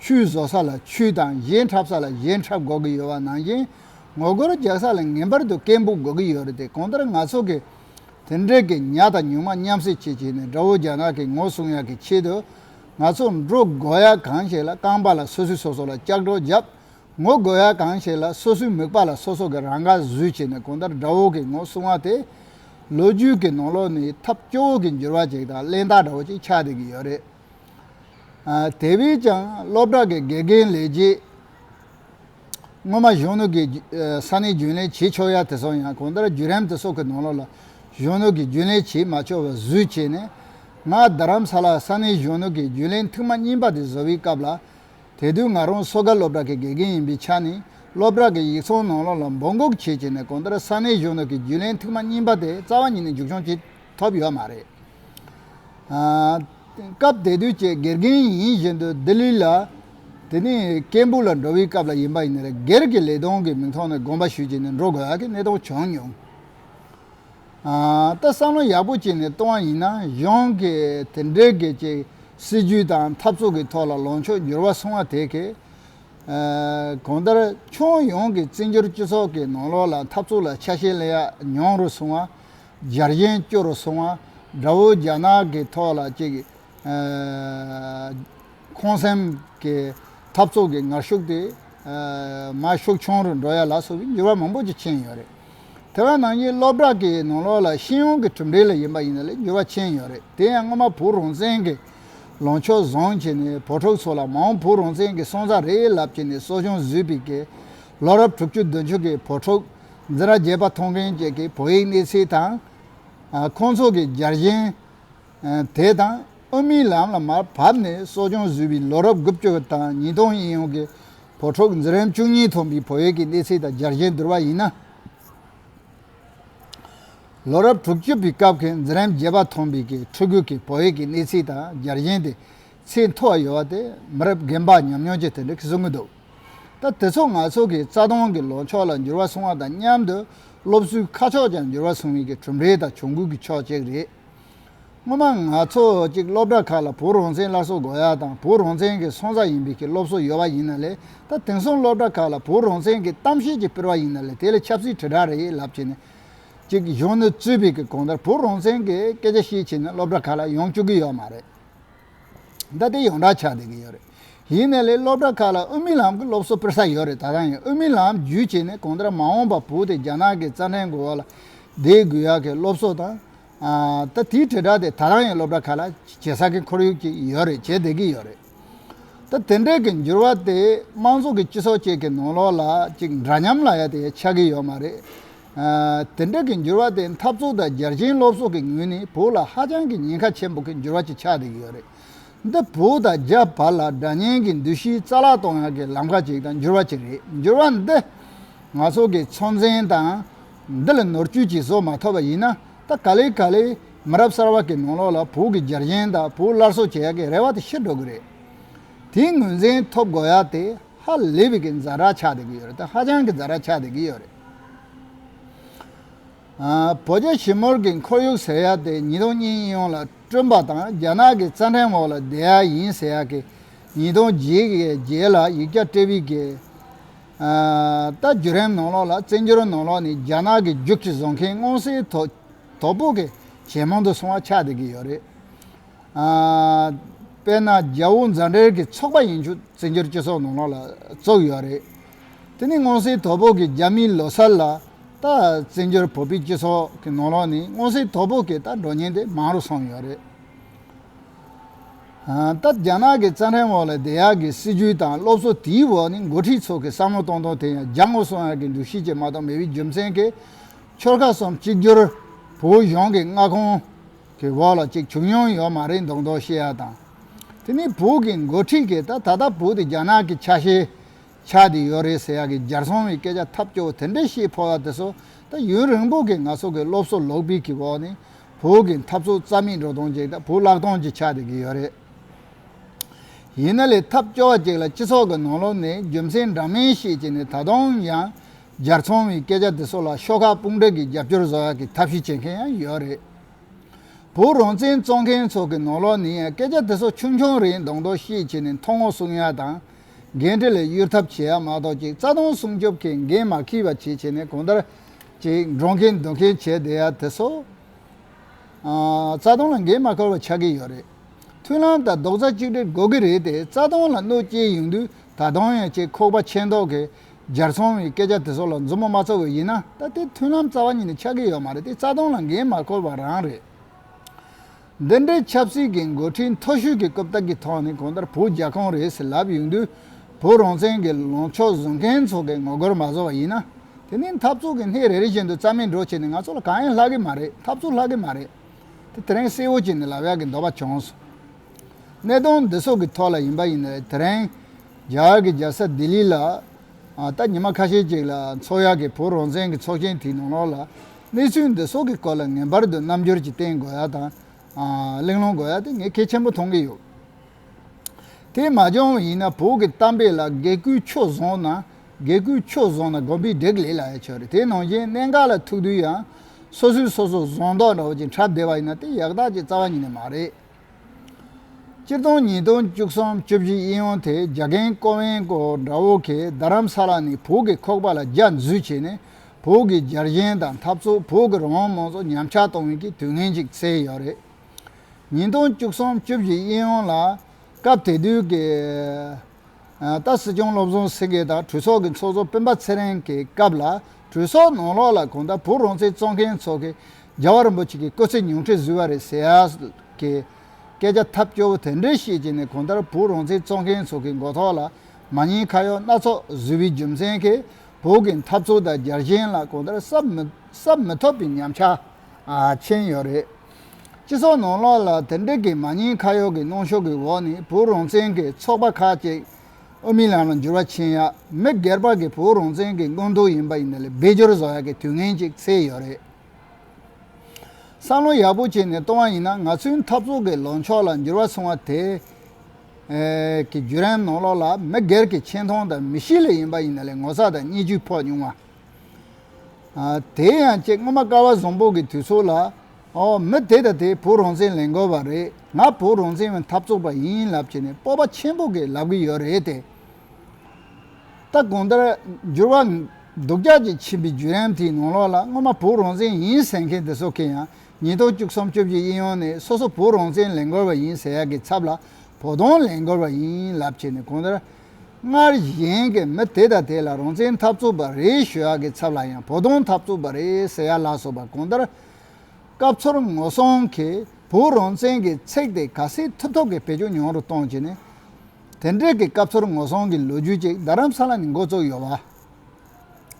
A: ཆུ་བཟོ་ས་ལ་ཆུ་དང་གཞས་འཁྲབ་ས་ལ་གཞས་འཁྲབ་དགོས་ཀྱི་ཡོད་བ་ནང་བཞིན་ངོ་རྒོལ་རྒྱག་ས་ལ་ངེས་པར་དུ་སྐད་འབུག་དགོས་ཀྱི་ཡོད་རེད་དེ་གང་ལྟར་ང་ཚོ་གི་དེ་འབྲེལ་གྱི་ཉག་དང་ཉུང་མ་མཉམ་བསྲེས་བྱེད་བྱས་ནས་དགྲ་བོ་རྒྱ་ནག་གི་ངོ་སྲུང་ཡག་གི་ཆེད་དུ། ང་ཚོ་འབྲུ་དགོས་ཡག་གང་ཞིག་ལ་རྐང་པ་ལ་སོ་སོས་སོ་སོ་ལ་ལྕགས་སྒྲོག་བརྒྱབ། ངོ་དགོས་ཡག་གང་ཞིག་ལ་སོ་སོའི་མིག་པ་ལ་སོ་སོ་གི་རང་དགར་གཟུད་བྱས་ནས་གང་ལྟར་དགྲ་བོ་གི་ངོ་སྲུང་བ་དེ། ལོ་རྒྱུས་ཀྱི་ནང་ལོག་ནས་ཐབས་སྐྱོ་བོ་གི་འགྱུར་བ་ཅིག་དང་གླེན་རྟགས་འདྲ་བོ་ཅིག་ཆགས་བསྡད་ཀྱི་ཡོད་རེད། དེ་བས་ཀྱང་སློབ་གྲྭ་གི་དགེ་རྒན་ལས་བྱེད། སྔོན་མ་གཞོན་ནུ་གི་ས་ནས་རྒྱུན་ལས་བྱེད་ཆོག་ཡ་དེ་སོང་ཡང་གང་ལྟར་བརྒྱུད་རིམ་དེ་སོགས་ཀྱི་ནང་ལོགས་ལ་གཞོན་ནུ་གི་རྒྱུན་ལས་བྱེད་མ་ཆོག་པའི་བཟོས་བྱས་ནས། ང་རྡ་རམ་ས་ལ་ས་གནས་གཞོན་ནུ་གི་རྒྱུན་ལས་མཐིང་མ་རྙིང་པ་དེ་བཟོ་བའི་སྐབས་ལ། དེ་དུས་ང་རང་སོ་དགའ་སློབ་གྲྭ་གི་དགེ་རྒན་ཡིན་པའི་ཆ་ནས་སློབ་གྲྭ་གི་ཡིག་ཚང་ནང་ལོགས་ལ་འབོད་འགུག་བྱས་བྱས་ནས་གང་ལྟར་ས་གནས་གཞོན་ནུ་གི་རྒྱུན་ལས་མཐིང་མ་རྙིང་པ་དེ་རྩ་བ་ཉིད་ནས་མཇུག་སྐྱོང་བྱེད། ཐོབ་ཡོད་མ་རེད། སྐབས་དེ་དུས་ཀྱི་དགེ་རྒན་ཡིན་བཞིན་དུ་ལྡི་ལི་ལ། དེ་ནི་སྐད་འབུད་ལ་འགྲོ་བའི་སྐབས་ལ་ཡིན་པ་ཡིན། སྒེར་གྱི་ལས་དོན་གྱི་མིང་ཐོག་ནས་དགོངས་པ་ཞུས་ཀྱིས་ནས་འགྲོ་དགོས་ཀྱི་གནས་སྟངས་བྱུང་མྱོང། ད་བསམ་བློ་ཡག་པོ་བྱས་ནས་བཏང་བ་ཡིན་ན་གཞུང་གིས་དེ་འདྲའི་སྒེར་གྱི་སྲིད་ཇུས་དང་འཐབ་རྩོད་ཀྱི་ཐོག་ལ་ལོངས་ཕྱོགས་འགྱུར་བ་སོང་བ་དེ་གས། གང་ལྟར་ཁྱོན་ཡོངས་ཀྱི་བཙན་བྱོལ་སྤྱི་ཚོགས་ཀྱི་ནང་ལོགས་ལ་འཐབ་རྩོད་ལ་ཆ་ཤས་གླེང་ཡག་ཉུང་རུ་སོང་བ། འཇར་ཡན་སྐྱོར་སོང་བ་འདྲ་བོ་རྒྱ་ནག་གི་ཐོག་ལ་ཅིག་ཁོང་སེམས་ཀྱི་འཐབ་རྩོད་ཀྱི་ངར་ཤུགས་དེ་མ་ཤུགས་ཆུང་རུ་འགྲོ་ཡ་ལ་སོགས་ཀྱི་འགྱུར་བ་མང་པོ་ཅིག་ཕྱིན་ཡོད་རེད། དེ་བས་ན་ངས་སློབ་གྲྭ་གི་ནང་ལོགས་ལ་ཤེས་ཡོན་གྱི་གྲུབ་འབྲས་ལ་ཡིན་པ་ཡིན་ན་ལས་འགྱུར་བ་ཕྱིན་ཡོད་རེད་དེ་ཡང་སྔོན་མ་བོུ་རོང་བཙན་གྱི་ལོངས་ཕྱོགས་བཟང་བྱས་ནས་བོུ་ཕྲུག་ཚོ་ལ་མའོ་བོུ་རོང་བཙན་གྱི་སོང་ཙག་རེད་ལབ་བྱས་ནས་གསོ་སྦྱོང་བཟོས་པའི་གེ་ལོ་རབས་དྲུག་ཅུ་བདུན་ཅུ་གྱི་བོུ་ཕྲུག་འཛི་ར་རྒྱས་པ་ཐོང་ཕེན་བཅས་ཀྱི་བོད་ཡིག་གནས་ཚུལ་དང། ཁོང་ཚོ་གི་འཇར་ཞན། དེ་དང་ཨོ་མིའི་ལམ་ལ་མར་བབས་ནས་གསོ་སྦྱོང་བཟོས་པའི་ལོ་རབས་དགུ་བཅུ་དང་ཉིས་སྟོང་ཡིན་ཡོང་གི་བོད་ཕྲུག་འཛི་རན་བཅུ་གཉིས་ཐོན་པའི་བོད་ཡིག་གི་གནས་ཚུལ་དང་འཇར་ཞན་བསྡུར་བ་ཡིན་ན། ལོ་རབས་དྲུག་བཅུ་པའི་སྐབས་ཀྱི་འཛི་རན་རྒྱས་པ་ཐོན་པའི་ཀྱི་ཕྲུ་གུ་ཀྱི་བོད་ཡིག་གི་གནས་ཚུལ་དང་འཇར་ཞན་དེ་ཚེ་མཐོ་བ་ཡོད་བ་དེ་མི་རབས་རྒན་པ་ཉམས་མྱོང་ཅན་དེ་འདྲས་ཀྱིས་བཟོ་གི་འདུག་ད་དེ་ཚོ་ང་ཚོ་གི་རྩ་སྟོང་གི་ལོ་མཆོག་ལ་འགྱུར་བ་སོང་བ་དང་མཉམ་དུ་སློབ་གསོའི་ཁ་ཕྱོགས་ཀྱང་འགྱུར་བ་སོང་ཡིན་གྱི་གྲུབ་འབྲས་དང་གྱོང་གུད་ཀྱི་ཕྱོགས་གཅིག་རེད། སྔོན་མ་ང་ཚོ་གཅིག་སློབ་གྲྭ་ཁག་ལ་བུ་རོང་ཚན་སླར་གསོ་འགོ་ཡ་དང་བུ་རོང་ཚན་གྱི་སོང་ས་ཡིན་པའི་གི་སློབ་གསོ་ཡོད་བ་ཡིན་ན་ལས་ད་དེང་སོང་སློབ་གྲྭ་ཁག་ལ་བུ་རོང་ཚན་གྱི་གཏམ་བཤད་ཅིག་སྤེལ་བ་ཡིན་ན་ལས་དེ་ལས་ཆབ་སྲིད་དྲིལ་བསྒྲགས་རེད་ལབ་བྱས་ནས་ཅིག་གཞོན་ནུ་གཙོས་པའི་གི་གོང་ལྟར་བུ་རོང་ཚན་གྱི་སྐད་ཆ་བཤད་བྱས་ནས་སློབ་གྲྭ་ཁག་ལ་ཡོང་བཅུག་གི་ཡོད་མ་རེད། ད་ལྟའི་ཡོངས་གྲགས་ཆགས་བསྡད་ཀྱི་ཡོད་རེད། གཞི་ནས་ལས་སློབ་གྲྭ་ཁག་ལ་དབུ་མའི་ལམ་གྱི་སློབ་གསོ་སྤེལ་ས་ཡོད་རེད་ད་རང་ཡང་དབུ་མའི་ལམ་བརྒྱུད་བྱས་ནས་གང་ལྟར་མ་འོངས་པ་བོད་དེ་རྒྱ་ནག་གི་རྩ་འགྲན་དགོས་བ་ལ་དེའི་དགོས་ཡག་གི་སློབ་གསོ་དང། ད་དེའི་དྲིལ་བསྒྲགས་དེ་ད་རང་ཡང་སློབ་གྲྭ་ཁག་ལ་བྱེད་ས་གི་ཁོར་ཡུག་ཅིག་ཡོད་རེད་བྱེད་བསྡད་ཀྱི་ཡོད་རེད། ད་དེ་འདྲའི་གི་འགྱུར་བ་དེ་དམངས་གཙོ་གི་སྤྱི་ཚོགས་ཅིག་གི་ནང་ལོགས་ལ་ཅིག་འདྲ་མཉམ་ལ་ཡ་དེ་ཡ་ཆགས་ཀྱི་ཡོད་མ་རེད། དེ་འདྲ་གི་འགྱུར་བ་དེ་འཐབ་རྩོད་དང་རྒྱལ་ཆེན་སློབ་གསོ་གི་ངོས་ནས་བོད་ལ་ཧ་ཅང་གི་ཉེན་ཁ་ཆེན་པོ་གི་འགྱུར་བ་ཅིག་ཆགས་རེག་ཡོད་རེད། འདི་བོད་དང་རྒྱ་བར་ལ་དགྲ་གཉེན་གི་འདུ་ཤེས་རྩ་བརླག་གཏོང་ཡག་གི་ལམ་ཁ་ཅིག་དང་འགྱུར་བ་ཅིག་རེད་འགྱུར་བ་འདི་ང་ཚོ་གི་ཚོ་མཚན་དང། འདི་ལ་ནོར་བཅོས་ཅིག་བཟོ་མ་ཐུབ་པ་ཡིན་ན་ད་ག་ལེ་ག་ལེ་མི་རབས་གསར་བ་གི་ནང་ལོགས་ལ་བོད་གི་རྒྱལ་ཆེན་དང་བོད་སླར་གསོ་བྱེད་ཡག་གི་རེ་བ་དེ་ཤི་འགྲོ་གི་རེད། དེའི་ངོས་མཚན་ཐོབ་དགོས་ཡག་དེ་ཧ་ལས་པའི་གི་འཛའ་དྲག་ཆགས་རེག་ཡོད་རེད་ད་ཧ་ཅང་གི་འཛའ་དྲག་ཆགས་རེག་གི་ཡོད་རེད། བོད་རྒྱ་ཞི་མོལ་གྱི་འཁོར་ཡུག་ཟེར་ཡག་དེ་ཉིས་སྟོང་གཉིས་ཡིན་ཡོང་ལ་བསྐྲུན་པ་དང་རྒྱ་ནག་གི་རྩ་འགྲན་འོག་ལ་བསྡད་ཡག་ཡིན་ཟེར་ཡག་གི་ཉིས་སྟོང་བརྒྱད་ཀྱི་རྗེས་ལ་ཡིག་བརྒྱ་སྤྲེལ་བིས་བརྒལ། ད་བརྒྱུད་རིམ་ནང་ལོགས་ལ་བཙན་བསྒྱུར་ནང་ལོགས་ནས་རྒྱ་ནག་གི་རྒྱུག་ཁྱི་བཟོ་མཁན་སྔོན་སེལ་དོ་ཕོག་གི་ཇེ་མང་དུ་སོང་བ་ཆགས་བསྡད་ཀྱི་ཡོད་རེད། དཔེར་ན་རྒྱ་དབུ་མཛའ་འབྲེལ་གྱི་ཚོགས་པ་ཡིན་ཆུ་བཙན་བསྒྱུར་སྤྱི་ཚོགས་ནང་ལོགས་ལ་བཙུགས་ཡོད་རེད། དེ་ནི་སྔོན་སྲིད་དོ་བོད་ཀྱི་རྒྱ་མིའི་ལོ་སར་ལ་རྟགས་བཙན་བྱོལ་བོད་པའི་སྤྱི་ཚོགས་ཀྱི་ནང་ལོགས་ནས་སྔོན་སྲིད་དོ་བོད་ཀྱི་རྟགས་འགྲོ་ཉེན་དེ་མང་རུ་སོང་ཡོད་རེད། ད་རྒྱ་ནག་གི་རྩ་ཁྲིམས་འོག་ལ་བདེ་ཡག་གི་སྲིད་ཇུས་དང་སློབ་གསོ་དེའི་འོག་ནས་འགོ་ཁྲིད་ཚོ་གི་བསམ་བློ་གཏོང་སྟངས་དེ་ཡང་རྒྱ་དངོས་སུ་ཡག་གི་འདུ་ཤེས་ཀྱི་མ་གཏོགས་མི་བའི་རྒྱུ་མཚན་གྱི་ཆོལ་ཁ་གསུམ་གཅིག་གྱུར་བོད་གཞུང་གི་མངའ་ཁོངས་ཀྱི་འོག་ལ་ཅིག་བྱུང་མྱོང་ཡོད་མ་རེད་མདོག་མདོག་བཤད་ཡག་དང། དེ་ནི་བོད་ཀྱི་འགོ་ཁྲིད་ཀྱིས་ད་ད་ལྟ་བོད་དེ་རྒྱ་ནག་གི་ཆ་ཤས་ཆགས་དེ་ཡོད་རེད་ཟེར་ཡག་གི་འཇར་སོང་བའི་སྐད་ཆ་ཐབས་སྐྱོ་བོ་དེ་འདྲས་ཤེས་ཕོ་བ་དེ་ཚོ་ད་ཡུན་རིང་པོ་གི་ང་ཚོ་གི་སློབ་གསོ་ལོག་སྤིལ་གི་འོག་ནས་བོད་གི་འཐབ་རྩོད་རྩ་མེད་འགྲོ་སྟངས་ཅིག་དང་བུ་བརླག་སྟངས་ཅིག་ཆགས་དེ་གི་ཡོད་རེད། ཡིན་ན་ལས་ཐབས་སྐྱོ་བ་ཅིག་ལ་སྤྱི་ཚོགས་གི་ནང་ལོག་ནས་རྒྱུ་མཚན་འདྲ་མིན་ཤེས་ཀྱི་ནས་ད་དུང་ཡང་འཇར་སོང་བའི་སྐད་ཆ་དེ་ཚོ་ལ་ཤོག་ཁག་དཔུང་སྒྲིག་གི་རྒྱབ་སྐྱོར་བཟོ་ཡག་གི་ཐབས་ཤེས་བྱེད་མཁན་ཡང་ཡོད་རེད། བོད་རང་བཙན་རྩོད་མཁན་ཚོ་གི་ནང་ལོག་ནས་ཡང་སྐད་ཆ་དེ་ཚོ་ཆུང་ཆུང་རེད་མདོག་མདོག་ཤེས་ཀྱི་ནས་མཐོང་ངོ་གསུང་ཡག་དང་འགན་འཁྲི་ལས་གཡོལ་ཐབས་བྱེད་ཡ་མ་གཏོགས་ཀྱིས་རྩ་དོན་སྲུང་སྐྱོབ་ཀྱི་འགན་མ་ཁྱི་བ་ཁྱི་བྱས་ནས་གང་ལྟར་གྱིས་འགྲོ་མཁན་སྡོད་མཁན་བྱས་བསྡད་ཡ་དེ་སོ། རྩ་དོན་ལ་འགན་མ་ཁུར་བ་ཆགས་ཀྱི་ཡོད་རེད། མཐུན་ལམ་དང་རྡོག་རྩ་གཅིག་སྒྲིལ་དགོས་ཀྱི་རེད་དེ་རྩ་དོན་ལ་གནོད་སྐྱེལ་ཡོང་དུས་ད་དུང་ཡང་ཅིག་ཁོག་པ་ཆད་མདོག་གིས་འཇར་ཚོང་བའི་སྐད་ཆ་དེ་ཚོ་ལ་མཛུབ་མོ་མ་བཙུགས་བ་ཡིན་ན་ད་ལྟའི་མཐུན་ལམ་རྩ་བ་ཉིད་ནས་ཆགས་ཀྱི་ཡོད་མ་རེད་དེ་རྩ་དོན་ལ་འགན་མ་ཁུར་བ་རང་རེད། འདི་འདྲའི་ཆབ་སྲིད་ཀྱི་འགོ་ཁྲིད་མཐོ་ཤོས་ཀྱི་རྐུབ་སྟེགས་ཀྱི་ཐོག་ནས་གང་ལྟར་བོད་རྒྱ་གང་རེད་ཟེར་ལབ་ཡོང་དུས། བོད་རང་བཙན་གྱི་ལངས་ཕྱོགས་བཟུང་མཁན་ཚོ་གི་ངོ་རྒོལ་མ་བཟོ་བ་ཡིན་ན། དེ་ནི་འཐབ་རྩོད་ཀྱི་སྣེ་རེ་རེ་བཞིན་དུ་རྩ་མེད་འགྲོ་བྱས་ནས་ང་ཚོ་ལ་གང་ཡང་ལྷག་གི་མ་རེད་འཐབ་རྩོད་ལྷག་གི་མ་རེད། དེ་དེ་རིང་གསལ་བོ་བྱས་ནས་ལབ་ཡག་གི་འདོད་པ་བྱུང་སོང། གནད་དོན་འདི་སོགས་ཀྱི་ཐོག་ལ་ཡིན་པ་ཡིན་ནའི་དེ་རིང་རྒྱ་གར་གྱི་རྒྱལ་ས་ལྡི་ལི་ལ། ད་ཉི་མ་ཁ་ཤས་ཅིག་ལ་འཚོགས་ཡག་གི་བོད་རང་བཙན་གྱི་ཚོགས་ཆེན་དེའི་ནང་ལོགས་ལ། གནས་ཚུལ་འདི་སོགས་ཀྱི་སྐོར་ལ་ངེས་པར་དུ་རྣམ་འགྱུར་གྱིས་བསྟན་དགོས་ཡ་དང། གླེང་སློང་དགོས་ཡ་དེ་ངས་གལ་ཆེན་པོ་མཐོང་གི་ཡོད། དེས་མ་འབྱུང་བ་ཡིན་ན་བོད་ཀྱི་གཏམ་དཔེ་ལ་དགེ་སྐུལ་ཆོས་བཟང་ན་དགེ་སྐུལ་ཆོས་བཟང་ན་དགོན་པའི་བགྲེགས་ལས་ལ་ཡང་ཆོས་རེད་དེ་ནང་བཞིན་གནད་འགག་ལ་ཐུག་དུས་ཡང་སོ་སོའི་སོ་སོ་བཟང་མདོག་འདྲ་བོ་ཅིག་འཁྲབ་བདེ་བ་ཡིན་ན་དེ་ཡག་རྟགས་ཀྱི་རྩ་བ་ཉིད་ནས་མ་རེད། སྤྱིར་བཏང་ཉིས་སྟོང་བཅུ་གསུམ་བཅུ་བཞི་དབྱིན་ཡུལ་དེ་རྒྱ་རྒན་ཀོ་ཝེན་ཀོ་འདྲ་བོ་གིས་རྡ་རམ་ས་ལ་ནི་བོད་ཀྱི་ཁོག་པ་ལ་རྒྱ་འཛུལ་བྱས་ནས་བོད་ཀྱི་རྒྱལ་གཞན་དང་འཐབ་རྩོད་བོད་ཀྱི་རང་དབང་མང་ཚོགས་ཉམས་ཆག་གཏོང་ཡུལ་གྱི་དུས་ངན་ཅིག་བསལ་ཡོད་རེད། ཉིས་སྟོང་བཅུ་གསུམ་བཅུ་བཞི་དབྱིན་ཡུལ་ལ་སྐབས་དེ་དུས་ཀྱི། ད་སྲིད་སྐྱོང་བློ་བཟང་སེང་གེ་དང་གྲོས་ཚོགས་ཀྱི་ཚོགས་གཙོ་སྤེན་པ་ཚེ་རིང་གི་སྐབས་ལ་གྲོས་ཚོགས་ནང་ལོགས་ལ་གང་ལྟར་བོད་རང་བཙན་རྩོད་མཁན་ཚོ་གིས་རྒྱལ་བ་རིན་པོ་ཆེ་གི་སྐུ་ཚེ་ཉུང་འཕྲི་བཟོས་བ་རེད་ཟེར་ཡ་གི་སྐད་ཆ་ཐབས་སྐྱོ་བོ་དེ་འདྲ་བཤད་ཀྱི་ནས་གང་ལྟར་བོད་རང་བཙན་རྩོད་མཁན་ཚོ་གི་མགོ་ཐོག་ལ་མ་ཉེས་ཁ་གཡོག་སྣ་ཚོགས་བཟོས་བའི་རྒྱུ་མཚན་གིས་བོད་ཀྱི་འཐབ་རྩོད་དང་རྒྱལ་ཞེན་ལ་གང་ལྟར་བསབ་མི་ཐུབ་པའི་ཉམས་ཆག་ཆེན་ཡོད་རེད། སྤྱི་ཚོགས་ནང་ལོགས་ལ་དེ་འབྲེལ་གྱི་མ་ཉེས་ཁ་གཡོག་གི་གནོན་ཤུགས་ཀྱི་འོག་ནས་བོད་རང་བཙན་གྱི་ཚོགས་པ་ཁག་ཅིག་དབུ་མའི་ལམ་ལ་འགྱུར་བ་ཕྱིན་ཡག་མི་སྒེར་པ་གི་བོད་རང་བཙན་གྱི་དངོས་མཐོ་ཡིན་པ་ཡིན་ན་ལས་འབད་སྦྱོར་བཟོ་ཡག་གི་དུས་ངན་ཅིག་ཚེས་ཡོད་རེད། བསམ་བློ་ཡག་པོ་བྱས་ནས་གཏོང་བ་ཡིན་ན་ང་ཚོའི་འཐབ་རྩོད་ཀྱི་ལངས་ཕྱོགས་ལ་འགྱུར་བ་སོང་བ་དེ། གི་བརྒྱུད་རིམ་ནང་ལོགས་ལ་མི་སྒེར་གྱི་ཆེ་མཐོང་དང་མི་གཤིས་ལས་ཡིན་པ་ཡིན་ན་ལས་ངོ་ཚ་དང་བརྙས་བཅོས་ཕོག་མྱོང་བ། དེ་ཡང་ཁྱེད་སྔོན་མ་ཀ་བ་བཟང་པོ་གི་དུས་ཚོད་ལ། ཨོ། མི་དེ་དང་དེས་བུ་རོང་བཙན་ལེན་དགོས་པ་རེད། ང་བུ་རོང་བཙན་བའི་འཐབ་རྩོད་པ་ཡིན་ལབ་བྱས་ནས་སྤོབས་པ་ཆེན་པོ་གིས་ལབ་གི་ཡོད་རེད་དེ། ད་གང་ལྟར། འགྱུར་བ། སྡུག་ཅག་ཅིག་ཕྱིན་པའི་བརྒྱུད་རིམ་དེའི་ནང་ལོགས་ལ་སྔོན་མ་བུ་རོང་བཙན་ཡིན་ཟེར་མཁན་དེ་ཚོ་གིས་ཡང་ཉིས་སྟོང་བཅུ་གསུམ་བཅུ་བཞི་དབྱིན་ཡུལ་ནས་སོ་སོ་བུ་རོང་བཙན་ལེན་དགོས་པ་ཡིན་ཟེར་ཡག་གི་ཚབ་ལ་བོ་དོང་ལེན་དགོས་པ་ཡིན་ལབ་བྱས་ནས་གང་ལྟར། སྔར་གཞན་གྱི་མི་དེ་དང་དེ་ལ་རང་བཙན་འཐབ་རྩོད་པ་རེད་ཞུ་ཡག་གི་ཚབ་ལ་ཡང་བོ་དོང་འཐབ་རྩོད་པ་རེད་ཟེར་ཡག་ལགས་སོགས་པ་གང་ལྟར། སྐབས་ཚོར་ངོ་སྲུང་གིས་བོད་རང་བཙན་གྱི་ཚེགས་དེ་ག་སེ་ཐུབ་ཐོབ་ཀྱི་བེད་སྤྱོད་ཉུང་རུ་གཏོང་བྱས་ནས། དེ་འབྲེལ་གྱི་སྐབས་ཚོར་ངོ་སྲུང་གི་ལོ་རྒྱུས་ཅིག་རྡ་རམ་ས་ལ་ནས་འགོ་བཙུགས་ཡོད་པ།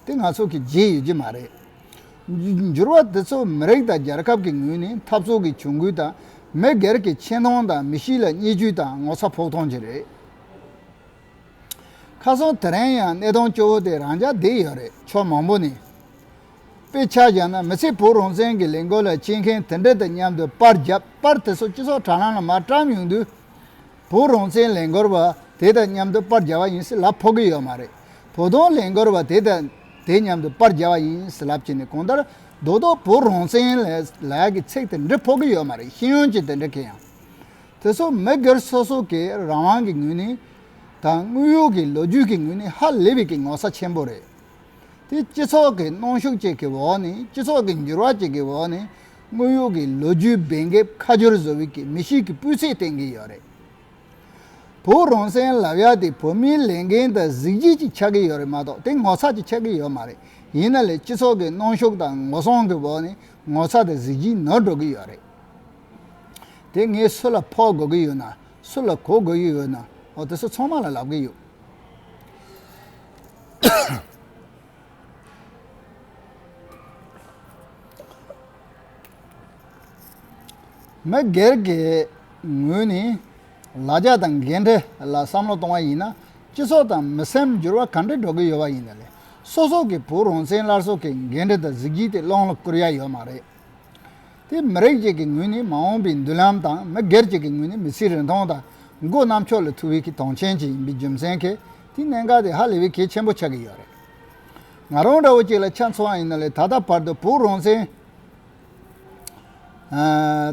A: དེ་ང་ཚོ་གི་བརྗེད་ཡོད་ཀྱི་མ་རེད། འགྱུར་བ་དེ་ཚོ་མི་རིགས་དང་རྒྱལ་ཁབ་ཀྱི་ངོས་ནས་འཐབ་རྩོད་ཀྱི་གྱོང་གུད་དང་མི་སྒེར་གྱི་ཆེ་མཐོང་དང་མི་གཤིས་ལ་བརྙས་བཅོས་དང་ངོ་ཚ་ཕོག་ཐོང་ཅིག་རེད། ཁ་སང་དེ་རིང་ཡང་གནས་སྟངས་སྐྱོ་བོ་དེ་རང་འཇགས་བསྡད་ཡོད་རེད། ཕྱོགས་མང་པོ་ནས། དཔེ་ཆ་བཞག་ན་མི་ཚེ་བོད་རང་བཙན་གྱི་ལས་འགུལ་ལ་གཅེས་མཁན་དེ་འདྲ་དང་མཉམ་དུ་པར་བརྒྱབ་པར་དེ་ཚོ་སྤྱི་ཚོགས་དྲ་ལམ་ལ་མར་བཀྲམ་ཡོང་དུས། བོད་རང་བཙན་ལས་འགུལ་བ་དེ་དང་མཉམ་དུ་པར་བརྒྱབ་པ་ཡིན་ཟེར་ལབ་ཕོག་གི་ཡོད་མ་རེད། བོ་དོང་ལས་འགུལ་བ་དེ་དང་དེ་མཉམ་དུ་པར་བརྒྱབ་པ་ཡིན་ཟེར་ལབ་ཀྱི་ནི་གང་ལྟར་རྡོག་རྡོག་བོད་རང་བཙན་ལས་ལས་ཀྱི་ཚིག་དེ་འདྲི་ཕོག་གི་ཡོད་མ་རེད་ཤེས་ཡོན་གྱི་དེ་འདྲ་གི་ཡང། དེ་སོགས་མི་སྒེར་སོ་སོ་ཀྱི་རང་དབང་གི་ངོས་ནས་དང་དངོས་ཡོད་ཀྱི་ལོ་རྒྱུས་ཀྱི་ངོས་ནས་ཧ་ལས་པའི་གི་ངོ་ཚ་ཆེན་པོ་རེད། དེ་སྤྱི་ཚོགས་ཀྱི་གནོང་ཤུགས་བཅས་ཀྱི་འོག་ནས་སྤྱི་ཚོགས་ཀྱི་འགྱུར་བ་བཅས་ཀྱི་འོག་ནས་དངོས་ཡོད་ཀྱི་ལོ་རྒྱུས་འབེན་འགེབས་ཁ་སྦྱོར་བཟོ་བའི་གི་མི་ཞིག་གི་སྤུས་ཚད་བསྟན་གྱི་ཡོད་རེད། བོད་རང་བཙན་ལབ་ཡ་དེ་བོད་མིའི་ལས་འགན་དང་གཟིགས་བརྗིད་ཅིག་ཆགས་ཀྱི་ཡོད་རེད་མ་གཏོགས་དེ་ངོ་ཚ་ཅིག་ཆགས་ཀྱི་ཡོད་མ་རེད་ཡིན་ན་ལས་སྤྱི་ཚོགས་ཀྱི་གནོང་ཤུགས་དང་ངོ་སྲུང་གི་འོག་ནས་ངོ་ཚ་དང་གཟིགས་བརྗིད་ནོར་འགྲོ་གི་ཡོད་རེད། དེ་ངས་སུ་ལ་ཕོག་དགོས་ཀྱི་ཡོད་ན་སུ་ལ་གོ་དགོས་ཀྱི་ཡོད་ན་འོ་དེ་ཚོ་ཚང་མ་ལ་ལབ་ཀྱི་ཡོད། མི་སྒེར་གྱི་ངོས་ནས་ལ་རྒྱ་དང་འགན་འཁྲི་ལ་བསམ་བློ་གཏོང་བ་ཡིན་ན་སྤྱི་ཚོགས་དང་མི་སེམས་འགྱུར་བ་གང་འདྲ་འགྲོ་གི་ཡོད་པ་ཡིན་ན་ལས་སོ་སོ་གི་བུ་རོང་བཙན་སླར་གསོ་གི་འགན་འཁྲི་དང་གཟི་བརྗིད་དེ་སློང་ལ་བསྐུར་ཡ་ཡོད་མ་རེད། དེས་མི་རིགས་ཅིག་གི་ངོས་ནས་མ་འོངས་པའི་མདུན་ལམ་དང་མི་སྒེར་ཅིག་གི་ངོས་ནས་མི་ཚེའི་རིན་ཐང་དང་མགོ་གནམ་ཕྱོགས་ལ་ཐུག་བའི་གི་དོང་ཆེན་ཅིག་ཡིན་པའི་རྒྱུ་མཚན་གྱིས་དེའི་གནད་འགག་དེ་ཧ་ལས་པའི་གལ་ཆེན་པོ་ཆགས་ཀྱི་ཡོད་རེད། ང་རང་འདྲ་བོ་ཅིག་ལ་ཆ་མཚོན་བ་ཡིན་ན་ལས་ད་ལྟ་བར་དུ་བོད་རང་བཙན།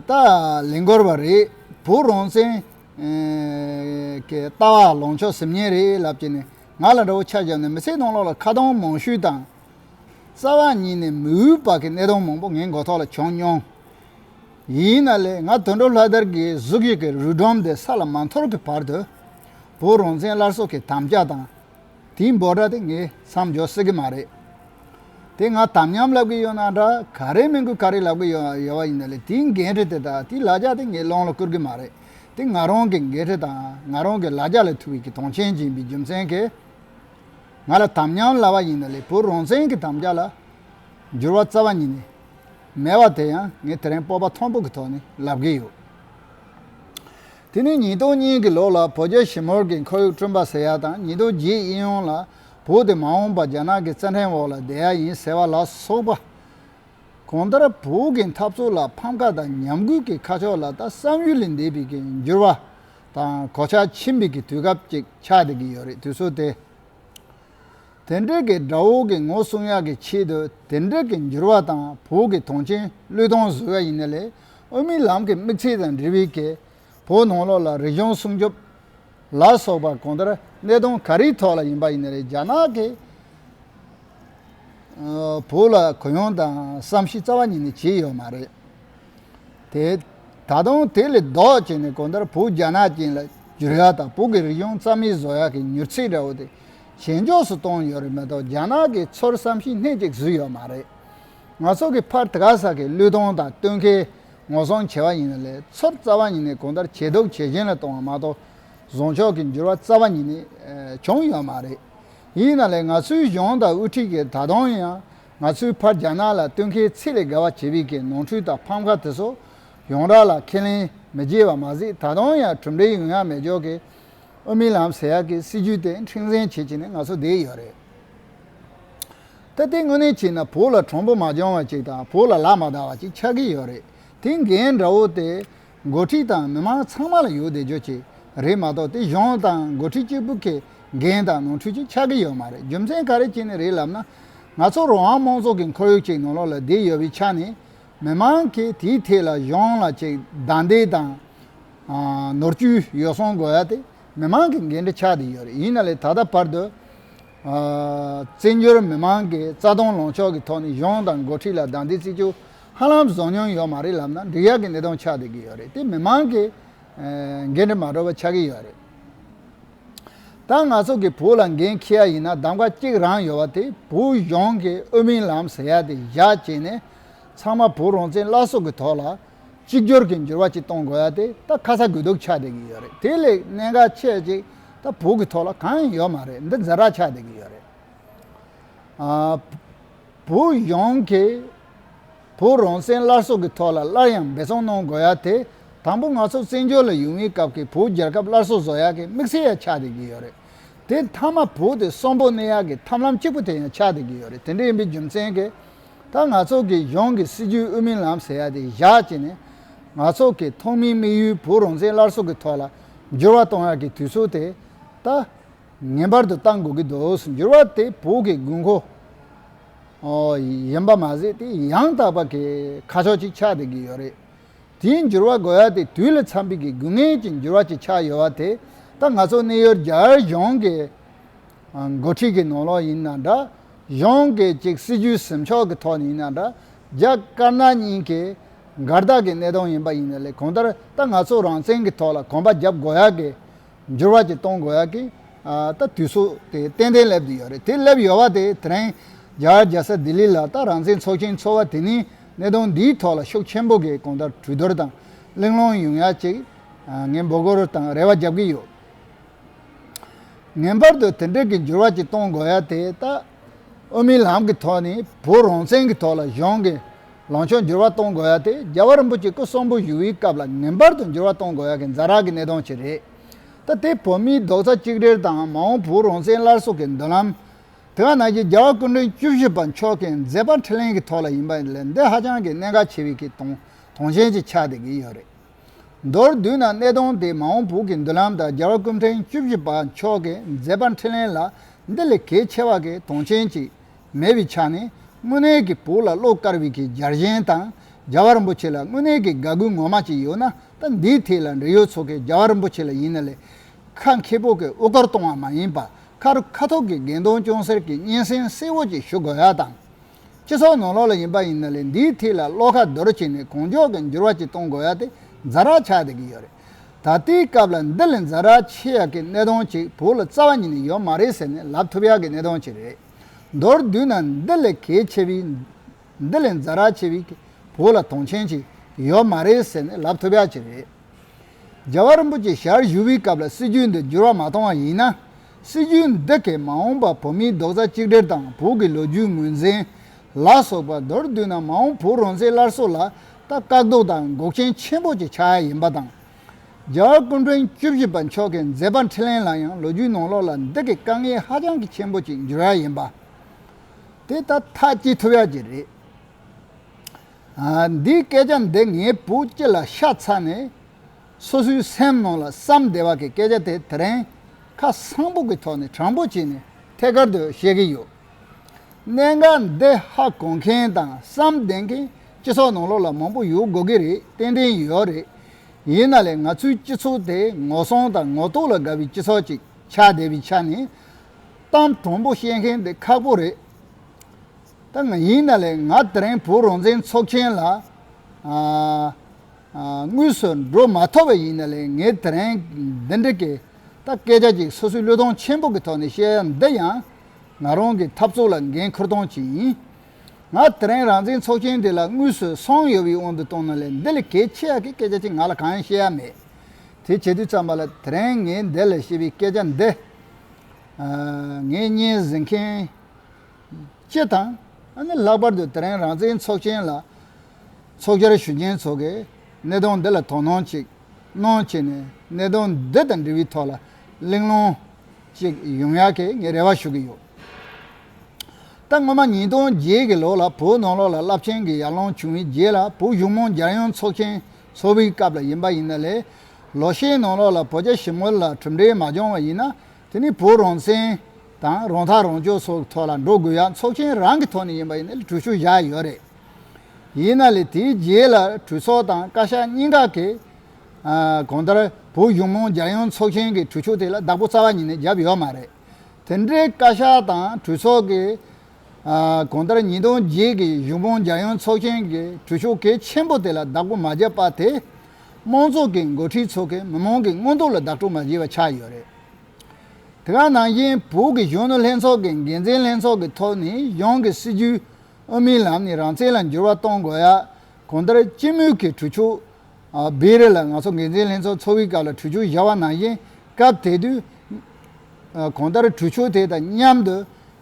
A: ད་ལས་འགོར་བ་རེད། བོད་རང་བཙན། གི་ལྟ་བ་ལངས་ཕྱོགས་ཟེར་ཉེན་རེད་ལབ་ཀྱི་ནས་ང་ལ་འདྲ་བོ་ཆ་བཞག་ནས་མི་ཚེའི་སྣང་ལོག་ལ་ཁ་གདངས་མང་ཤོས་དང། རྩ་བ་ཉིད་ནས་མི་འོས་པ་གི་གནས་སྟངས་མང་པོ་ངའི་མགོ་ཐོག་ལ་བྱུང་མྱོང། ཡིན་ན་ལེ་ང་དུད་འགྲོ་ལྷ་དར་གི་གཟུགས་ཤིག་གི་རུས་སྒྲོམ་དེ་ས་ལ་མ་འཐོར་གི་བར་དུ། བོད་རང་བཙན་སླར་གསོ་གི་དམ་བཅའ་དང། དེའི་འབོད་སྒྲ་དེ་ངས་མཚམས་འཇོག་སྲིད་གི་མ་རེད། དེ་ང་དམ་ཉམས་ལབ་གི་ཡོད་ན་འདྲ་ག་རེ་སྨན་སྐུལ་ག་རེ་ལབ་གི་ཡོད་བ་ཡིན་ན་ལེ་དེའི་འགན་འཁྲི་དེ་དང་དེའི་ལ་རྒྱ་དེ་ངའི་ཀློང་ལ་བསྐུར་གི་མ་རེད་དེ་ང་རང་གི་འགན་འཁྲི་དང་ང་རང་གི་ལ་རྒྱ་ལ་ཐུག་གི་གི་དོན་ཆེན་སྦྱིན་པའི་རྒྱུ་མཚན་གི། ང་ལ་དམ་ཉམས་སླ་བ་ཡིན་ན་ལས་བུ་རང་བཙན་གྱི་དམ་བཅའ་ལ་འགྱུར་བ་རྩ་བ་ཉིད་ནས་མེད་པ་དེ་ཡང་ངས་དེ་རིང་སྤོབས་པ་ཐོང་པོ་གི་ཐོག་ནས་ལབ་གི་ཡོད། དེ་ནི་ཉིས་སྟོང་གཉིས་གྱི་ལོ་ལ་བོད་རྒྱ་ཞི་མོལ་གྱི་འཁོར་ཡུག་བསྐྲུན་པ་ཟེར་ཡ་དང་ཉིས་སྟོང་བརྒྱད་ཨི་ཡོང་ལ་བོད་དེ་མ་འོངས་པ་རྒྱ་ནག་གི་བཙན་འཁྲེང་འོག་ལ་བསྡད་ཡ་ཡིན་ཟེར་བ་ལ་སོགས་པ། གང་ལྟར་བོད་ཀྱི་འཐབ་རྩོད་ལ་ཕམ་ཁ་དང་ཉམས་རྒུད་ཀྱི་ཁ་ཕྱོགས་ལ་ད་བསམ་ཡུལ་ལས་འདས་པའི་འགྱུར་བ་དང་གོ་ཆ་ཕྱིར་འབུད་ཀྱི་དུས་སྐབས་ཅིག་ཆགས་བསྡད་ཀྱི་ཡོད་རེད་དུས་ཚོད་དེ། དེ་འབྲེལ་གྱི་དགྲ་བོ་གི་ངོ་སྲུང་ཡག་གི་ཆེད་དུ་དེ་འབྲེལ་གྱི་འགྱུར་བ་དང་བོད་ཀྱི་དོན་རྐྱེན་བློས་གཏོང་བཟོ་ཡག་ཡིན་ན་ལས་དབུ་མའི་ལམ་གྱི་དམིགས་ཚད་དང་འབྲེལ་བའི་གས་བོད་ནང་ལོག་ལ་རིག་གཞུང་སྲུང་སྐྱོབ་ལ་སོགས་པ་གང་ལྟར་གནད་དོན་ག་རེའི་ཐོག་ལ་ཡིན་པ་ཡིན་ན་རེད་རྒྱ་ནག་གིས་བོད་ལ་གུ་ཡངས་དང་བསམ་ཤེས་རྩ་བ་ཉིད་ནས་བྱས་ཡོད་མ་རེད། དེ། ད་དུང་དེ་ལས་ལྡོག་བྱས་ནས་གོང་ལྟར་བུ་རྒྱ་ནག་ཅན་ལ་འགྱུར་ཡག་དང་བོད་ཀྱི་རིག་གཞུང་རྩ་མེད་བཟོ་ཡག་གི་མྱུར་ཚད་འདྲ་བོ་དེ་ཞན་འཇོག་སུ་གཏོང་ཡོད་རེད་མ་གཏོགས་རྒྱ་ནག་གིས་ཚུར་བསམ་གཞིག་སྣེ་གཅིག་བཟོས་ཡོད་མ་རེད། ང་ཚོ་གི་ཕར་དགའ་ས་གི་བློས་གཏོང་དང་བསྟུན་ཁའི་ངོ་སྲུང་བྱས་བ་ཡིན་ན་ལས་ཚུར་རྩ་བ་ཉིད་ནས་གོང་ལྟར་ཇེ་སྡུག་ཇེ་ཞན་ལ་གཏོང་བ་མ་གཏོགས་བཟོ་ཕྱོགས་ཀྱི་འགྱུར་བ་རྩ་བ་ཉིད་ནས་བྱུང་ཡོད་མ་རེད། ཡིན་ན་ལས་ང་ཚོའི་གཞུང་དང་དབུ་ཁྲིད་ཀྱིས་ད་དུང་ཡང་ང་ཚོའི་ཕར་རྒྱ་ནག་ལ་བསྟུན་མཁས་ཚིག་ལས་དགའ་བ་བྱེད་པའི་གི་ནོང་འཁྲུལ་དང་ཕམ་ཁ་དེ་ཚོ་ཡོང་རག་ལ་ཁས་ལེན་མི་བགྱིད་བ་མ་ཟིག་ད་དུང་ཡང་གྲུབ་འབྲས་ཡོང་ཡག་མེད་ཇོ་ཀི་ཨོ་མི་ལམ་ཟེར་ཡག་གི་སྲིད་ཇུས་དེ་འཁྲིང་ཟན་བྱེད་བྱེད་ནས་ང་ཚོ་བསྡད་ཡོད་རེད་ད་དེ་དངོས་གནས་བྱས་ན་བོད་ལ་གྲོང་པོ་མ་སྦྱོང་བ་ཅིག་དང་བོད་ལ་ལག་མ་བརྡ་བ་ཅིག་ཆགས་གི་ཡོད་རེད་དེ་འགན་འདྲ་བོ་དེ་འགོ་ཁྲིད་དང་མི་མང་ཚང་མ་ལ་ཡོད་བདེ་འཇོག་ཅིག་རེད་མ་གཏོགས་དེ་གཞུང་དང་འགོ་ཁྲིད་གཅིག་པུ་གི་འགན་དང་ནོར་འཁྲུལ་ཅིག་ཆགས་ཀྱི་ཡོད་མ་རེད་རྒྱུ་མཚན་ག་རེ་བྱས་ནས་རེད་ལབ་ན། ང་ཚོ་རང་དབང་མང་ཚོགས་ཀྱི་འཁོར་ཡུག་ཅིག་ནང་ལོག་ལ་བསྡད་ཡོད་པའི་ཆ་ནས། མི་མང་གིས་དེའི་ཐད་ལ་གཞུང་ལ་ཅིག་སྡང་འདེད་དང། ནོར་བཅུད་ཡོ་བསྲང་དགོས་ཡ་དེ་མི་མང་གི་འགན་འཁྲི་ཆགས་བསྡད་ཡོད་རེད་ཡིན་ན་ལས་ད་ལྟ་བར་དུ། བཙན་བྱོལ་མི་མང་གི་རྩ་སྟོང་ལོངས་ཕྱོགས་ཀྱི་ཐོག་ནས་གཞུང་དང་འགོ་ཁྲིད་ལ་བདག་འདི་བརྩི་རྒྱུ་ཧ་ལམ་བཟོ་མྱོང་ཡོད་མ་རེད་ལབ་ན་འགྲིག་ཡག་གི་གནས་སྟོང་ཆགས་བསྡད་ཀྱི་ཡོད་རེད་དེ་མི་མང་གི་འགན་འདྲི་མ་འགྲོ་བ་ཆགས་ཀྱི་ཡོད་རེད་ད་ང་ཚོ་གི་བོད་ལ་འགན་འཁྱེར་ཡག་ཡིན་ན་གདམ་ཀ་གཅིག་རང་ཡོད་བ་དེ་བོད་གཞུང་གི་དབུ་མིའི་ལམ་ཟེར་ཡག་དེ་བཞག་བྱས་ནས་ཚང་མ་བོད་རང་བཙན་བླ་སྲོག་གི་ཐོག་ལ། གཅིག་གྱུར་གྱི་འགྱུར་བ་ཅིག་གཏོང་དགོས་ཡ་དེ་ད་ཁ་ཚ་དགོས་གཏུགས་ཆགས་བསྡད་ཀྱི་ཡོད་རེད་དེ་ལས་གནད་འགག་ཆེ་གཅིག་ད་བོད་ཀྱི་ཐོག་ལ་གང་ཡང་ཡོད་མ་རེད་འདི་འཛིན་རག་ཆགས་བསྡད་ཀྱི་ཡོད་རེད། བོད་གཞུང་གིས་བོད་རང་བཙན་སླར་གསོ་གྱི་ཐོག་ལ་སླར་ཡང་འབད་བརྩོན་གནང་དགོས་ཡ་དེ་དང་པོ་ང་ཚོ་བཙན་བྱོལ་ལ་ཡོང་བའི་སྐབས་ཀྱི་བོད་རྒྱལ་ཁབ་སླར་གསོ་བཟོ་ཡག་གི་དམིགས་བསལ་ཡང་ཆགས་བསྡད་ཀྱི་ཡོད་རེད་དེ་མཐའ་མ་བོད་དེ་གསོན་པོ་གནས་ཡག་གི་ཐམས་ལམ་གཅིག་པུ་དེ་ཡང་ཆགས་བསྡད་ཀྱི་ཡོད་རེད་དེ་འདྲ་ཡིན་པའི་རྒྱུ་མཚན་གྱི། ད་ང་ཚོ་གིས་གཞུང་གི་སྲིད་ཇུས་དབུ་མའི་ལམ་ཟེར་ཡ་དེ་བཞག་ཅེས་ནས་ང་ཚོ་གིས་ཐོག་མའི་དམིགས་ཡུལ་བོད་རང་བཙན་སླར་གསོ་གི་ཐོག་ལ་འགྱུར་བ་གཏོང་ཡ་གི་དུས་ཚོད་དེ་ད་ངེས་པར་དུ་གཏང་དགོས་ཀྱི་འདུག་འགྱུར་བ་དེ་བོད་ཀྱི་དགོས་མཁོ་ཡིན་པ་མ་ཟད་དེ་ཡང་དག་པ་གི་ཁ་ཕྱོགས་ཅིག་ཆགས་བསྡད་ཀྱི་ཡོད་རེད། དེའི་འགྱུར་བ་དགོས་ཡ་དེ་དུས་ལ་འཚམ་པའི་གི་དགོས་ངེས་ཀྱི་འགྱུར་བ་ཅིག་ཆགས་ཡོད་བ་དེ་ད་ང་ཚོ་གནས་ཡུལ་རྒྱ་གཞུང་གི་འགོ་ཁྲིད་ཀྱི་ནོར་ལོག་ཡིན་ན་འདྲ། གཞོན་སྐད་ཅིག་སྲིད་ཇུས་ཟིན་ཕྱོགས་ཀྱི་ཐོག་ནས་ཡིན་ན་འདྲ། རྒྱ་དཀར་ནག་གཉིས་ཀྱི་འགལ་ཟླ་གྱི་གནད་དོན་ཡིན་པ་ཡིན་ན་ལས་གང་ལྟར་ད་ང་ཚོ་རང་བཙན་གྱི་ཐོག་ལ་གོམ་པ་བརྒྱབ་དགོས་ཡ་གི། འགྱུར་བ་ཅིག་གཏོང་དགོས་ཡ་གི། ད་དུས་ཚོད་དེ་ཏན་ཏན་སླེབས་དུས་ཡོད་རེད་དེ་སླེབས་ཡོད་བ་དེ་དེ་རིང་རྒྱ་གར་རྒྱལ་ས་ལྡི་ལི་ལ་ད་རང་བཙན་ཚོགས་ཆེན་ཚོགས་བ་དེ་ནི་གནད་དོན་འདིའི་ཐོག་ལ་ཤུགས་ཆེན་པོ་གིས་གང་ལྟར་གྲོས་བསྡུར་དང་གླེང་སློང་ཡོང་ཡ་གཅིག་ངས་འབོད་སྐུལ་དང་རེ་བ་རྒྱབ་ཀྱི་ཡོད། ངེས་པར་དུ་དེ་འབྲེལ་གྱི་འགྱུར་བ་ཅིག་གཏོང་དགོས་ཡ་དེ་ལྟ། དབུ་མའི་ལམ་གྱི་ཐོག་ནས་བོད་རང་བཙན་གྱི་ཐོག་ལ་གཞུང་གི་ལངས་ཕྱོགས་འགྱུར་བ་གཏོང་དགོས་ཡ་དེ་རྒྱ་བ་རིན་པོ་ཆེ་སྐུ་གསོན་པོ་བཞུགས་ཡུལ་སྐབས་ལ་ངེས་པར་དུ་འགྱུར་བ་གཏོང་དགོས་ཡ་གི་འཛ་རག་གི་གནད་དོན་ཅིག་རེད་ད་དེ་བོད་མིའི་རྡོག་རྩ་གཅིག་སྒྲིལ་དང་མ་འོངས་བོད་རང་བཙན་སླར་གསོ་གི་མདུན་ལམ། དེ་ག་ནང་བཞིན་རྒྱ་བ་སྐུ་མགྲོན་བཅུ་བཞི་པ་མཆོག་གིས་མཛད་པ་འཕྲིན་ལན་གྱི་ཐོག་ལ་ཡིན་པ་ལས་འདི་ཧ་ཅང་གི་གནད་འགག་ཆེ་བའི་གི་དོང་དོང་ཞན་ཅིག་ཆགས་བསྡད་ཀྱི་ཡོད་རེད། མདོར་བསྡུས་ན་གནད་དོན་དེ་མ་འོངས་བོད་ཀྱི་མདུན་ལམ་དང་རྒྱ་བལ་ཀུན་ཕྲན་བཅུ་བཞི་པ་མཆོག་གི་མཛད་པ་འཕྲིན་ལས་ལ་འདི་ལས་གལ་ཆེ་བ་གི་དོན་ཆེན་གཅིག་མེད་པའི་ཆ་ནས་དངོས་གནས་ཀྱི་བོད་ལ་བློ་དཀར་བའི་གི་རྒྱ་གཞན་དང་རྒྱ་བལ་རིན་པོ་ཆེ་ལ་དངོས་གནས་ཀྱི་དགའ་གུས་ངོ་མ་གཅིག་ཡོད་ན་ད་འདིའི་ཐད་ལ་འབྲེལ་ཡོད་ཚོ་གི་རྒྱ་བལ་རིན་པོ་ཆེ་ལ་ཡིན་ན་ལས་ཁ་མཁས་པོ་གི་དབུ་སྐར་གཏོང་བ་མ་ཡིན་པ་ཁ་རུ་ཁ་ཐུག་གི་དགེ་འདུན་སྐྱོང་གསེར་གྱི་སྙན་སེང་གསལ་བོ་གཅིག་ཞུ་དགོས་ཡ་དང། སྤྱི་ཚོགས་ནང་ལོགས་ལ་ཡིན་པ་ཡིན་ན་ལས་འདིའི་ཐིག་ལ་བློ་ཁ་རྡོར་བྱས་ནས་གང་མགྱོགས་ཀྱི་འགྱུར་བ་ཅིག་གཏོང་དགོས་ཡ་དེ་འཛའ་རག་ཆགས་བསྡད་ཀྱི་ཡོད་རེད། ད་ལྟའི་སྐབས་ལ་འདི་ལས་འཛའ་རག་ཆེ་ཡག་གི་གནས་སྟངས་ཅིག་བོད་ལ་རྩ་བ་ཉིད་ནས་ཡོད་མ་རེད་ཟེར་ནས་ལབ་ཐུབ་ཡག་གི་གནས་སྟངས་ཅིག་རེད། མདོར་བསྡུས་ན་འདི་ལས་གལ་ཆེ་བའི། འདི་ལས་འཛའ་རག་ཆེ་བའི་བོད་ལ་དོན་ཆེན་ཅིག་ཡོད་མ་རེད་ཟེར་ནས་ལབ་ཐུབ་ཡག་ཅིག་རེད། རྒྱལ་བ་རིན་པོ་ཆེ་ཞལ་བཞུགས་པའི་སྐབས་ལ་སྲིད་ཇུས་འདི་འགྱུར་བ་མ་གཏོང་བ་ཡིན་ན། སྲིད་ཇུས་འདི་གས་མ་འོངས་པར་བོད་མིའི་རྡོག་རྩ་གཅིག་སྒྲིལ་དང་བོད་ཀྱི་ལོ་རྒྱུས་ངོས་འཛིན། ལ་སོགས་པར་མདོར་བསྡུས་ན་མ་འོངས་བོད་རང་བཙན་སླར་གསོ་ལ་ད་བཀག་རྡོ་དང་འགོག་རྐྱེན་ཆེན་པོ་གཅིག་ཆགས་ཡིན་པ་དང། རྒྱ་གར་སྐུ་མགྲོན་བཅུ་བཞི་པ་མཆོག་གིས་མཛད་པ་འཕྲིན་ལན་ལ་ཡང་ལོ་རྒྱུས་ནང་ལོགས་ལ་འདི་གས་དཀའ་ངལ་ཧ་ཅང་གི་ཆེན་པོ་གཅིག་འགྱུར་ཡ་ཡིན་པ། དེ་ད་ཐག་སྐྱིད་ཐུབ་ཡ་གཅིག་རེད། འདིའི་སྐད་ཆ་འདི་ངའི་བུ་སྐྱིད་ལ་ཤ་ཚ་ནས། སོ་སོའི་སེམས་ནང་ལ་བསམ་བདེ་བ་གི་སྐད་ཆ་དེ་དེ་རིང་ཁ་གསང་པོ་གི་ཐོག་ནས་དྲང་པོ་བྱས་ནས་ཐད་ཀར་དུ་བཤད་གི་ཡོད། གནད་འགག་འདི་ཧ་གོ་མཁན་དང་བསམ་བདེ་མཁན་སྤྱི་ཚོགས་ནང་ལོགས་ལ་མང་པོ་ཡོད་དགོས་གི་རེད་ཏན་ཏན་ཡོད་རེད། ཡིན་ན་ལེ་ང་ཚོའི་སྤྱི་ཚོགས་དེ་ངོ་སྲང་དང་ངོ་གཏུག་ལ་དགའ་བའི་སྤྱི་ཚོགས་ཅིག་ཆགས་བསྡད་པའི་ཆ་ནས། གཏམ་དྲང་པོ་བཤད་མཁན་དེ་ཁག་པོ་རེད། ད་ང་ཡིན་ན་ལེ་ང་དེ་རིང་བོད་རང་བཙན་ཚོགས་ཆེན་ལ། དངོས་སུ་འགྲོ་མ་ཐུབ་པ་ཡིན་ན་ལས་ངས་དེ་རིང་འདི་འདྲ་སྐད་ད་སྐད་ཆ་ཅིག་སོ་སོའི་བློས་གཏོང་ཆེན་པོ་གི་ཐོག་ནས་བཤད་ཡ་འདི་ཡང་ང་རང་གི་འཐབ་རྩོད་ལ་འགན་ཁུར་སྟངས་ཅིག་ཡིན། ང་དེ་རིང་རང་བཙན་ཚོགས་ཆེན་དེ་ལ་དངོས་སུ་སོང་ཡོད་པའི་དབང་དུ་བཏང་ན་ལས་འདི་ལས་གལ་ཆེ་ཡ་གི་སྐད་ཆ་ཅིག་ང་ལ་གང་ཡང་བཤད་ཡ་མེད། དེ་བྱེད་དུས་ཙམ་པ་ལ་དེ་རིང་ངས་འདི་ལ་བཤད་པའི་སྐད་ཆ་འདི། ངས་བརྙན་གཟིགས་མཁན། ཅེས་དང། ལྷག་པར་དུ་དེ་རིང་རང་བཙན་ཚོགས་ཆེན་ལ་ཚོགས་བཅར་ཞུ་མཁན་ཚོ་གིས་གནད་དོན་འདི་ལ་དོ་སྣང་ཅིག་གནོངས་བྱས་ནས་གནད་དོན་འདི་དང་འབྲེལ་བའི་ཐོག་ལ་གླེང་སློང་ཅིག་ཡོང་ཡག་གི་ངས་རེ་བ་ཞུ་གི་ཡོད། ད་སྔོན་མ་ཉིས་སྟོང་བརྒྱད་ཀྱི་ལོ་ལ་བོད་ནང་ལོགས་ལ་རླབས་ཆེན་གྱི་ཡར་ལངས་བྱུང་བའི་རྗེས་ལ་བོད་གཞུང་མང་རྒྱལ་ཡོངས་ཚོགས་ཆེན་འཚོགས་པའི་སྐབས་ལ་ཡིན་པ་ཡིན་ན་ལས། ལོ་ཤས་ནང་ལོགས་ལ་བོད་རྒྱ་ཞི་མོལ་ལ་གྲུབ་འབྲས་མ་བྱུང་བ་ཡིན་ན་དེ་ནི་བོད་རང་བཙན་དང་རང་ཐག་རང་གཅོད་སོགས་ཀྱི་ཐོག་ལ་འགྲོ་དགོས་ཡ་ཚོགས་ཆེན་རང་གི་ཐོག་ནས་ཡིན་པ་ཡིན་ན་ལས་གྲོས་ཤུགས་བཞག་ཡོད་རེད། ཡིན་ན་ལས་དེའི་རྗེས་ལ་གྲོས་ཚོགས་དང་བཀའ་ཤག་གཉིས་ཀ་གིས། གང་ལྟར་བོད་གཞུང་མང་རྒྱལ་ཡོངས་ཚོགས་ཆེན་གྱི་གྲོས་ཆོད་དེ་ལ་བདག་པོ་རྩ་བ་ཉིད་ནས་བརྒྱབ་ཡོད་མ་རེད། དེ་འདྲའི་བཀའ་ཤག་དང་གྲོས་ཚོགས་ཀྱིས། གང་ལྟར་ཉིས་སྟོང་བརྒྱད་ཀྱི་གཞུང་མང་རྒྱལ་ཡོངས་ཚོགས་ཆེན་གྱི་གྲོས་ཆོད་གལ་ཆེན་པོ་དེ་ལ་བདག་པོ་མ་བརྒྱབ་པ་དེ། དམངས་གཙོ་གི་འགོ་ཁྲིད་ཚོ་གིས་མི་དམངས་ཀྱི་མངོན་འདོད་ལ་བདག་སྤྲོད་མ་བྱས་པ་ཆགས་ཡོད་རེད། དེ་ག་ནང་བཞིན་བོད་ཀྱི་གཞོན་ནུ་ལྷན་ཚོགས་ཀྱི་འགན་འཛིན་ལྷན་ཚོགས་ཀྱི་ཐོག་ནས་གཞུང་གི་སྲིད་ཇུས་དབུ་མའི་ལམ་ནས་རང་བཙན་ལ་འགྱུར་བ་གཏོང་དགོས་ཡ་གང་ལྟར་སྤྱི་མོས་ཀྱི་གྲོས་ཆོད་སྦས་རེས་ལ་ང་ཚོ་འགན་འཛིན་ལྷན་ཚོགས་འཚོ་བའི་སྐབས་ལ་གྲོས་ཆོད་བཞག་པ་ནང་བཞིན་སྐབས་དེ་དུས་གང་ལྟར་གྲོས་ཆོད་དེ་དང་མཉམ་དུ་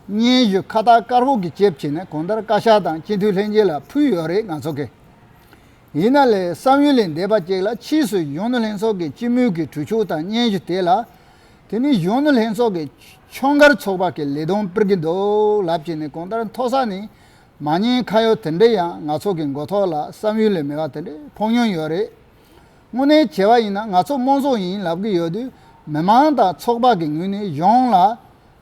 A: སྙན་ཞུ་ཁ་བཏགས་དཀར་པོ་གི་ལྕེབས་བྱས་ནས་གང་ལྟར་བཀའ་ཤག་དང་སྤྱི་འཐུས་ལྷན་རྒྱས་ལ་ཕུལ་ཡོད་རེད་ང་ཚོ་གིས་ཡིན་ན་ལས་བསམ་ཡུལ་ལས་འདས་པ་གཅིག་ལ་ཕྱིས་སུ་གཞོན་ནུ་ལྷན་ཚོགས་ཀྱི་སྤྱི་མོས་ཀྱི་གྲོས་ཆོད་དང་སྙན་ཞུ་དེ་ལ། དེ་ནི་གཞོན་ནུ་ལྷན་ཚོགས་ཀྱི་ཁྱོན་སྒར་ཚོགས་པ་གི་ལས་དོན་སྤེལ་གྱི་འདུག་ལབ་ཀྱི་ནི་གང་ལྟར་མཐོ་ས་ནས་མ་ཉན་ཁ་ཡོད་དེ་འདྲས་ཡང་ང་ཚོ་གི་མགོ་ཐོག་ལ་བསམ་ཡུལ་ལས་མེད་པ་དེ་འདྲས་ཕོག་མྱོང་ཡོད་རེད། དངོས་གནས་བྱས་པ་ཡིན་ན་ང་ཚོ་དམངས་གཙོ་ཡིན་ལབ་ཀྱི་ཡོད་དུས་མི་མང་དང་ཚོགས་པ་གི་ངོས་ནས་གཞུང་ལ་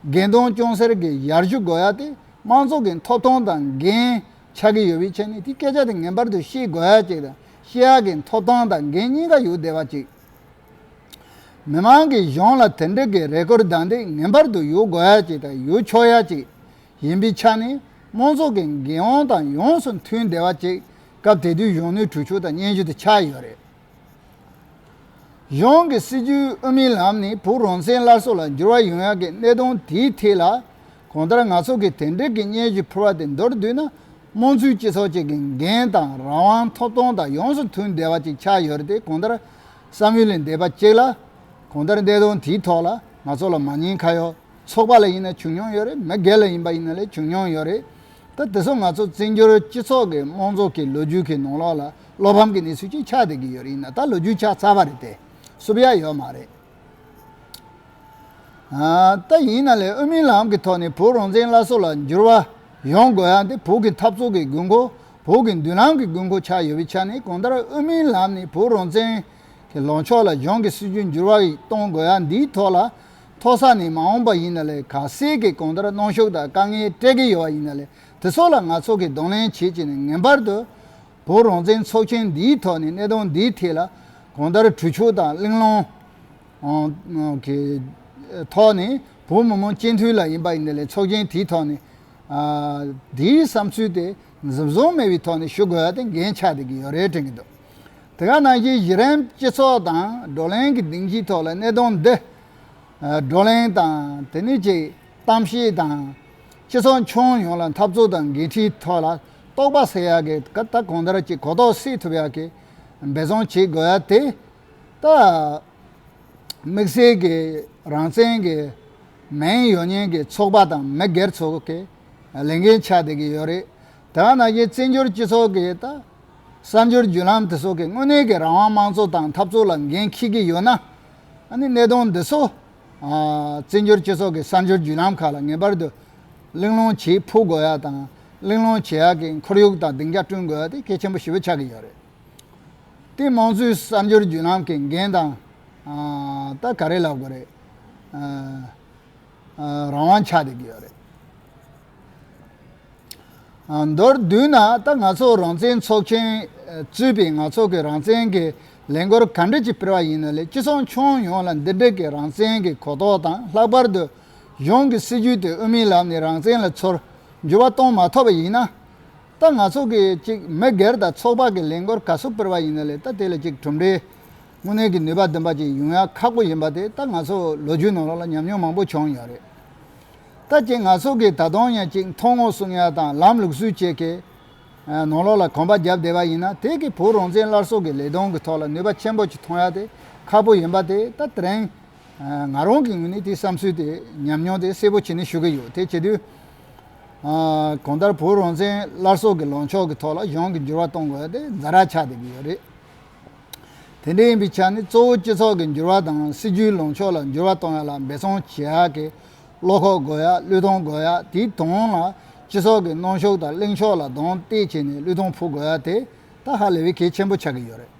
A: འགན་དང་སྐྱོན་སེལ་གྱི་ཡར་ཞུ་དགོས་ཡ་དེ་དམངས་གཙོ་གི་མཐོ་གཏོང་དང་འགན་ཆགས་ཀྱི་ཡོད་པའི་ཆ་ནས་དེའི་སྐད་ཆ་དེ་ངེས་པར་དུ་ཤེས་དགོས་ཅིག་དང་ཤེས་ཡག་གི་མཐོ་སྟངས་དང་འགན་གཉིས་ཀ་ཡོད་བདེ་བ་ཅིག་མི་མང་གི་གཞུང་ལ་དེ་འདྲི་གི་རེ་སྐུལ་སྡང་དེ་ངེས་པར་དུ་ཡོད་དགོས་ཅིག་དང་ཡོད་ཆོག་ཡ་ཅིག་ཡིན་པའི་ཆ་ནས་དམངས་ཚོགས་ཀྱི་འགན་དབང་དང་ཡོངས་སུ་མཐུན་བདེ་བ་ཅིག་སྐབས་དེ་དུས་གཞོན་ནུའི་གྲོས་ཆོད་དང་སྙན་ཞུ་དེ་ཆགས་ཡོད་རེད། གཞུང་གི་སྲིད་བྱུས་དབུ་མའི་ལམ་ནས་བོད་རང་བཙན་སླར་གསོ་ལ་འགྱུར་བ་ཡོང་ཡག་གི་གནད་དོན་དེའི་ཐད་ལ། གང་ལྟར་ང་ཚོ་གིས་དེ་འབྲེལ་གྱི་སྙན་ཞུ་ཕུལ་བ་དེ་མདོར་བསྡུས་ན། དམངས་གཙོའི་སྤྱི་ཚོགས་ཅིག་གི་འགན་དང་རང་དབང་ཐོབ་ཐང་དང་ཡོངས་སུ་མཐུན་བདེ་བ་ཅིག་ཆགས་ཡོད་རེད་དེ་གང་ལྟར། བསམ་ཡུལ་ལས་འདས་པ་གཅིག་ལ། གང་ལྟར་གནད་དོན་དེའི་ཐོག་ལ་ང་ཚོ་ལ་མ་ཉེས་ཁ་ཡོད། ཚོགས་པ་ལ་ཡིན་ན་བྱུང་མྱོང་ཡོད་རེད་མི་སྒེར་ལ་ཡིན་པ་ཡིན་ན་ལས་བྱུང་མྱོང་ཡོད་རེད། ད་དེ་ཚོ་ང་ཚོ་བཙན་བྱོལ་སྤྱི་ཚོགས་ཀྱི་དམངས་གཙོ་གི་ལོ་རྒྱུས་ཀྱི་ནང་ལོགས་ལ་བློ་ཕམ་གྱི་གནས་ཚུལ་ཅིག་ཆགས་བསྡད་ཀྱི་ཡོད་རེད་ཡིན་ན་ད་ལོ་རྒྱུས་ཆགས་ཚར་བ་རེད་དེ་བསུབ་ཡ་ཡོད་མ་རེད། ད་ཡིན་ན་ལས་དབུ་མའི་ལམ་གྱི་ཐོག་ནས་བོད་རང་བཙན་སླར་གསོ་ལ་འགྱུར་བ་ཡོང་དགོས་ཡ་འདི་བོད་ཀྱི་འཐབ་རྩོད་ཀྱི་དགོས་མཁོ་བོད་ཀྱི་མདུན་ལམ་གྱི་དགོས་མཁོ་ཆགས་ཡོད་པའི་ཆ་ནས་གང་ལྟར་དབུ་མའི་ལམ་ནས་བོད་རང་བཙན་གྱི་ལངས་ཕྱོགས་ལ་གཞུང་གི་སྲིད་བྱུས་འགྱུར་བ་ཡིག་གཏོང་དགོས་ཡ་འདིའི་ཐོག་ལ་མཐོ་ས་ནས་མ་འོངས་པ་ཡིན་ན་ལས་ག་ཟེར་གི་གང་ལྟར་གནོང་ཤུགས་དང་དཀའ་ངལ་སྤྲད་ཀྱི་ཡོད་པ་ཡིན་ན་ལས་དེ་སོགས་ལ་ང་ཚོ་གིས་གདོང་ལེན་བྱེད་ཀྱི་ནི་ངེས་པར་དུ་བོད་རང་བཙན་ཚོགས་ཆེན་འདིའི་ཐོག་ནས་གནད་དོན་འདིའི་ཐད་ལ་གང་ལྟར་གྲོས་ཆོད་དང་གླེང་སློང་གི་ཐོག་ནས་བོད་མི་མང་སྤྱི་མཐུན་ལ་ཡིན་པ་ཡིན་ན་ལས་ཚོགས་ཆེན་དེའི་ཐོག་ནས་དེའི་བསམ་ཚུལ་དེ་གཟིམ་ཟོམ་མེད་པའི་ཐོག་ནས་ཞུ་དགོས་པ་དེ་འགན་ཆགས་བསྡད་ཀྱི་ཡོད་རེད་དྲན་གྱི་འདུག། དེ་ག་ནང་བཞིན་གཞི་རིམ་སྤྱི་ཚོགས་དང་བགྲོ་གླེང་གི་སྡིངས་ཆའི་ཐོག་ལ་གནད་དོན་འདི་བགྲོ་གླེང་དང་དེ་ནས་ཀྱི་གཏམ་བཤད་དང། སྤྱི་ཚོགས་མཆོང་ཡོངས་ལ་འཐབ་རྩོད་དང་འགན་འཁྲིའི་ཐོག་ལ་རྟོགས་པ་སད་ཡག་གི་ཀ་ད་གོང་ལྟར་གྱི་གོ་རྟོགས་སད་ཐུབ་ཡག་གི་འབད་བརྩོན་བྱེད་དགོས་ཡག་དེ་ད་དམིགས་བསལ་གི་རང་བཙན་གི་མིང་ཡོད་ཉན་གི་ཚོགས་པ་དང་མི་སྒེར་ཚོ་གི་ལས་འགན་ཆགས་བསྡད་གི་ཡོད་རེད་དེ་ག་ནང་བཞིན་བཙན་བྱོལ་སྤྱི་ཚོགས་གི་ད། གསར་འགྱུར་བརྒྱུད་ལམ་དེ་སོགས་ཀྱིས་དངོས་གནས་ཀྱི་རང་དབང་དམངས་གཙོ་དང་འཐབ་རྩོད་ལ་འགན་འཁྱེར་གྱི་ཡོད་ན། ཨ་ནི་གནད་དོན་འདི་ཚོ། བཙན་བྱོལ་སྤྱི་ཚོགས་ཀྱི་གསར་འགྱུར་བརྒྱུད་ལམ་ཁག་ལ་ངེས་པར་དུ། གླེང་སློང་བྱེད་ཕོད་དགོས་ཡག་དང། གླེང་སློང་བྱེད་ཡག་གི་ཁོར་ཡུག་དང་སྡིངས་ཆ་བསྐྲུན་དགོས་ཡག་དེ་གལ་ཆེན་པོ་ཞིབ་པོ་ཆགས་ཀྱི་ཡོད་རེད་དེ། དམངས་གཙོའི་གསར་འགྱུར་བརྒྱུད་ལམ་གྱི་འགན་དང། ད་ག་རེ་ལབ་དགོས་རེད། རང་དབང་ཆགས་བསྡད་ཀྱི་ཡོད་རེད། མདོར་བསྡུས་ན་ད་ང་ཚོ་རང་བཙན་ཚོགས་ཆེན་བཙུད་པས་ང་ཚོ་གི་རང་བཙན་གི་ལས་འགོར་ག་འདྲ་ཅིག་སྤེལ་བ་ཡིན་ནོ་ལས་སྤྱི་ཚོགས་མཆོང་ཡོངས་ལ་འདི་འདྲི་གི་རང་བཙན་གི་གོ་རྟོགས་དང་ལྷག་པར་དུ་གཞུང་གི་སྲིད་ཇུས་དེ་དབུ་མའི་ལམ་ནས་རང་བཙན་ལ་ཚོར་འགྱུར་བ་གཏོང་མ་ཐོབ་པ་ཡིན་ན། ད་ང་ཚོ་གི་ཅིག་མི་སྒེར་དང་ཚོགས་པ་གི་ལས་འགོར་ག་སུ་སྤེལ་བ་ཡིན་ནོ་ལས་ད་དེ་ལ་ཅིག་གྲུབ་འབྲས་དངོས་གནས་གི་ནུས་པ་འདོན་པ་ཅིག་ཡོང་ཡ་ཁག་པོ་ཡིན་པ་དེ་ད་ང་ཚོ་ལོ་རྒྱུས་ནང་ལོགས་ལ་ཉམས་མྱོང་མང་པོ་བྱུང་ཡོད་རེད། ལྟ་ཅི་ང་སོགས་ཀྱིས་ད་དུང་ཡང་ཅིག་མཐོང་ངོ་གསུང་ཡ་དང་ལམ་ལུགས་སུས་བྱེད་ཀྱི། ནོར་ལོག་ལ་གོམ་པ་བརྒྱབ་བསྡད་པ་ཡིན་ན་དེ་གིས་བོད་རང་བཙན་སླར་གསོ་གི་ལས་དོན་གྱི་ཐོག་ལ་ནུས་པ་ཆེན་པོ་ཅིག་ཐོན་ཡ་དེ་ཁག་པོ་ཡིན་པ་དེ་ད་ཐེངས་ང་རང་གི་ངོས་ནས་དེའི་བསམ་ཚུལ་དེ་ཉམས་མྱོང་དེ་གསལ་པོ་བྱས་ནས་ཞུ་གི་ཡོད་དེ་བྱེད་དུས། གང་ལྟར་བོད་རང་བཙན་སླར་གསོ་གི་ལངས་ཕྱོགས་ཀྱི་ཐོག་ལ་གཞུང་གི་འགྱུར་བ་གཏོང་དགོས་ཡ་དེ་འཛའ་རག་ཆགས་བསྡད་ཀྱི་ཡོད་རེད། དེ་འདྲ་ཡིན་པའི་ཆ་ནས་གཙོ་བོ་སྤྱི་ཚོགས་ཀྱི་འགྱུར་བ་དང་སྲིད་ཇུས་ལངས་ཕྱོགས་ལ་འགྱུར་བ་གཏོང་ཡག་ལ་འབད་བརྩོན་བྱེད་ཡག་གི་བློ་ཁོག་དགོས་ཡག་བློས་གཏོང་དགོས་ཡག་དེའི་དོན་ལ་སྤྱི་ཚོགས་ཀྱི་གནོན་ཤུགས་དང་གླེང་ཕྱོགས་ལ་རྡོང་གཏད་བྱས་ནས་བློས་གཏོང་ཕུག་དགོས་ཡག་དེ་ད་ཧ་ལས་པའི་གལ་ཆེན་པོ་ཆགས་ཀྱི་ཡོད་རེད།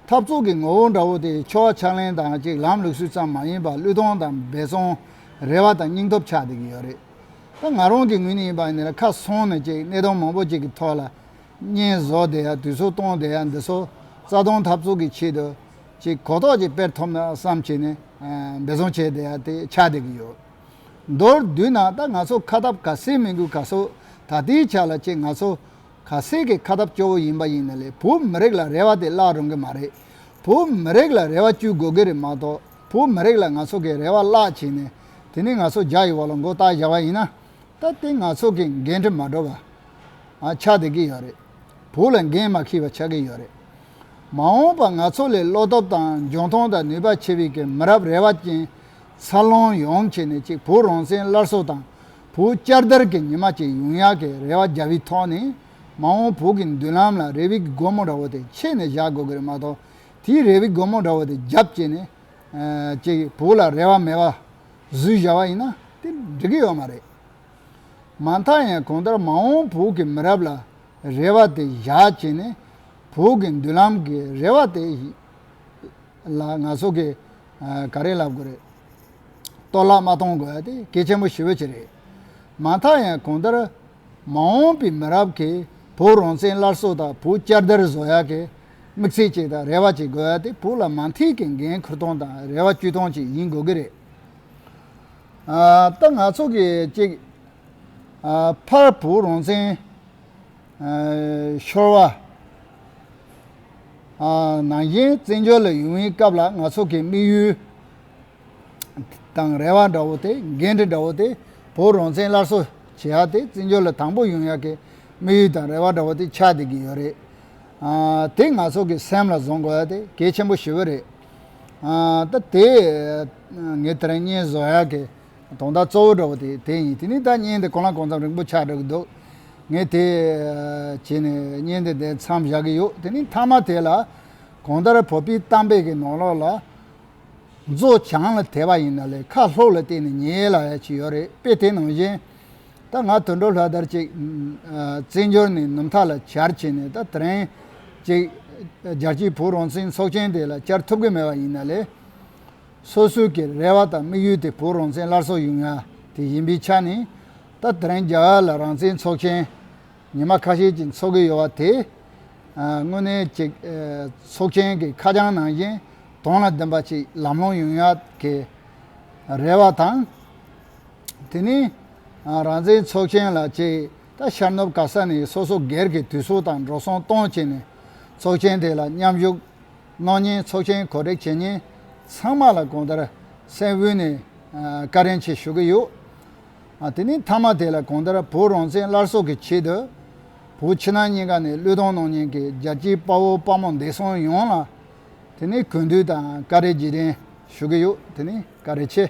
A: འཐབ་རྩོད་ཀྱི་ངོ་བོ་འདྲ་བོ་དེ་ཕྱོགས་བ་ཕྱག་ལེན་དང་གཅིག་ལམ་ལུགས་སུལ་ཙམ་མ་ཡིན་པར་བློས་གཏོང་དང་འབད་བརྩོན་རེ་བ་དང་སྙིང་སྟོབས་ཆགས་བསྡད་ཀྱི་ཡོད་རེད། ད་ང་རང་གི་ངོས་ནས་ཡིན་པ་ནི་ཁ་སང་ནས་གཅིག་གནད་དོན་མང་པོ་གཅིག་གི་ཐོག་ལ་བསྙེན་བཟོ་དེ་ཡང་དུས་ཚོད་སྟོང་དེ་ཡང་འདི་སོ་རྩ་སྟོང་ཐབས་ཚུགས་ཀྱི་ཆེད་དུ་ཅིག་གོ་རྟོགས་ཀྱི་དཔེར་ཐོབ་ན་བསམ་ཅི་ནས་འབད་བཟུང་བྱས་དེ་ཡང་དེ་ཆགས་བསྡད་ཀྱི་ཡོད། མདོར་བསྡུས་ན་ད་ང་ཚོ་ཁ་ཐབས་ག་སེ་མི་འགུལ་ག་སོ་ད་ལྟའི་ཆ་ལ་ཅིག་ང་ཚོ་ག་སེ་གི་ཁ་ཐབས་སྐྱོ་བོ་ཡིན་པ་ཡིན་ན་ལས་བོད་མི་རིགས་ལ་རེ་བ་དེ་བརླག་རུང་གི་མ་རེད། བོད་མི་རིགས་ལ་རེ་བ་བཅུད་དགོས་ཀྱི་རེད་མ་གཏོགས་བོད་མི་རིགས་ལ་ང་ཚོ་གི་རེ་བ་བརླག་བྱས་ནས་དེ་ནས་ང་ཚོ་རྒྱ་ཡི་འོག་ལ་མགོ་བཏགས་བཞག་པ་ཡིན་ན། ད་ལྟའི་ང་ཚོ་གི་འགན་འཁྲི་མ་འགྲོ་བ། ཆགས་བསྡད་ཀྱི་ཡོད་རེད། བོད་ལ་འགན་མ་ཁྱི་བ་ཆགས་ཀྱི་ཡོད་རེད། མ་འོངས་པ་ང་ཚོ་ལས་བློ་སྟོབས་དང་འཇོན་ཐང་དང་ནུས་པ་ཆེ་བས་ཀྱི་མི་རབས་རེ་བ་ཅན་འཚར་ལོངས་ཡོང་ཆེད་ནས་ཅིག་བོད་རང་བཙན་སླར་གསོ་དང་བོད་བསྐྱར་དར་གྱི་ཉི་མ་ཅིག་ཡོང་ཡག་གི་རེ་བ་རྒྱག་བའི་ཐོག་ནས་མ་འོངས་བོད་ཀྱི་མདུན་ལམ་ལ་རེ་བའི་སྒོ་མོ་འདྲ་བོ་དེ་ཕྱེས་ནས་བཞག་དགོས་ཀྱི་རེད་མ་གཏོགས་དེའི་རེ་བའི་སྒོ་མོ་འདྲ་བོ་དེ་རྒྱབ་བཅད་ནས་ཅིག་བོད་ལ་རེ་བ་མེད་པ་གཟུགས་གཞལ་བ་ཡིན་ན་དེ་འགྲིག་གི་ཡོད་མ་རེད། མ་མཐའ་ཡང་གང་ལྟར་མ་འོངས་བོད་ཀྱི་མི་རབས་ལ་རེ་བ་དེ་བཞག་བྱས་ནས་བོད་ཀྱི་མདུན་ལམ་གྱི་རེ་བ་དེ་ལ་ང་ཚོ་གིས་ག་རེ་ལབ་དགོས་རེད། གཏོར་བརླག་མ་གཏོང་དགོས་དེ་གལ་ཆེན་པོ་ཞི་བོ་ཆེ་རེད། མ་མཐའ་ཡང་གང་ལྟར་མ་འོངས་པའི་མི་རབས་ཀྱིས་བོད་རང་བཙན་སླར་གསོ་དང་བོད་བསྐྱར་དར་བཟོ་ཡག་གི་དམིགས་བསལ་གཅིག་དང་རེ་བ་གཅིག་དགོས་ཡ་དེ་བུ་ལ་མ་མཐིལ་གྱི་འགན་ཁུར་སྟོང་དང་རེ་བ་བཅུ་སྟོང་གཅིག་ཡིན་དགོས་ཀྱི་རེད། ད་ང་ཚོ་གི་གཅིག་ཕར་བུ་རང་བཙན་ཤོར་བ། ནང་བཞིན་བཙན་བྱོལ་ལ་ཡུན་བའི་སྐབས་ལ་ང་ཚོ་གི་དམིགས་ཡུལ་དང་རེ་བ་འདྲ་བོ་དེ་འགན་འཁྲི་འདྲ་བོ་དེ་བུ་རང་བཙན་སླར་གསོ་བྱེད་ཡ་དེ་བཙན་བྱོལ་ལ་དང་པོ་ཡོང་ཡ་གི་དམིགས་ཡུལ་དང་རེ་བ་འདྲ་བོ་དེ་ཆགས་བསྡད་ཀྱི་ཡོད་རེད། དེ་ང་ཚོ་གི་སེམས་ལ་བཟུང་དགོས་ཡ་དེ་གལ་ཆེན་པོ་ཞི་བོ་རེད། ད་དེ་ངས་དེ་རིང་བརྙན་བཟོ་ཡག་གི་དོང་དག་གཙོ་བོ་འདྲ་བོ་དེ་དེ་ཡིན་དེ་ནས་ད་བརྙན་དེ་གང་ལ་གང་འཚམ་རིང་པོ་ཆགས་འདྲ་གི་འདུག་ངས་དེ་བྱས་ནས་བརྙན་དེ་དེ་མཚམས་བཞག་གི་ཡོད་དེ་ནས་མཐའ་མ་དེ་ལ་གང་ལྟར་བོད་པའི་གཏམ་དཔེ་གི་ནང་ལོགས་ལ་མཛོ་བྱང་ལ་དེད་པ་ཡིན་ན་ལས་ཁ་ལྷོག་ལ་བལྟས་ནས་ཉལ་ལ་ཡ་ཅི་ཡོད་རེད་དཔེ་དེ་ནང་བཞིན། ད་ང་དུད་འགྲོ་ལྷ་དར་ཅིག། བརྩེ་འབྱོར་ནི་ནུབ་མཐའ་ལ་གྱར་བྱས་ནས་ད་ཐེངས་ཅིག། རྒྱལ་སྤྱིའི་བུ་རོང་བཙན་ཚོགས་ཆེན་དེ་ལ་བཅར་ཐུབ་ཀྱི་མེད་པ་ཡིན་ན་ལས། སོ་སོའི་གི་རེ་བ་དང་དམིགས་ཡུལ་དེ་བུ་རོང་བཙན་སླར་གསོ་ཡོང་ཡ་དེ་ཡིན་པའི་ཆ་ནས། ད་ཐེངས་རྒྱ་གར་ལ་རང་བཙན་ཚོགས་ཆེན་ཉི་མ་ཁ་ཤས་ཅིག་འཚོགས་ཀྱི་ཡོད་པ་དེ། དངོས་གནས་ཅིག་ཚོགས་ཆེན་གྱི་ཁ་བྱང་ནང་བཞིན་དོན་ལ་བདེན་པ་ཅིག་ལམ་ལྷོང་ཡོང་ཡ་དེ། རེ་བ་དང། དེ་ནི། རང་བཙན་ཚོགས་ཆེན་ལ་ཅེས་ད་ཤར་ནུབ་ག་ས་ནས་སོ་སོ་སྒེར་གྱི་དུས་སུ་དང་འགྲོ་སོང་གཏོང་བྱས་ནས་ཚོགས་ཆེན་དེ་ལ་མཉམ་ཞུགས་གནང་ཉིན་ཚོགས་ཆེན་གོ་སྒྲིག་བྱེད་ཉིན་ཚང་མ་ལ་གོང་ལྟར་སེམས་དབུས་ནས་བཀའ་དྲིན་ཆེ་ཞུ་གི་ཡོད། དེ་ནི་མཐའ་མ་དེ་ལ་གོང་ལྟར་བོད་རང་བཙན་སླར་གསོ་གི་ཆེད་དུ་བོད་ཕྱི་ནང་གཉིས་ཀ་ནས་བློས་གཏོང་གནང་ཉིན་གྱི་རྒྱལ་སྤྱིའི་དཔའ་བོ་དཔའ་མོ་འདས་སོང་ཡོངས་ལ་དེ་ནི་གུས་འདུད་དང་བཀའ་དྲིན་རྗེས་དྲན་ཞུ་གི་ཡོད་དེ་ནི་བཀའ་དྲིན་ཆེ།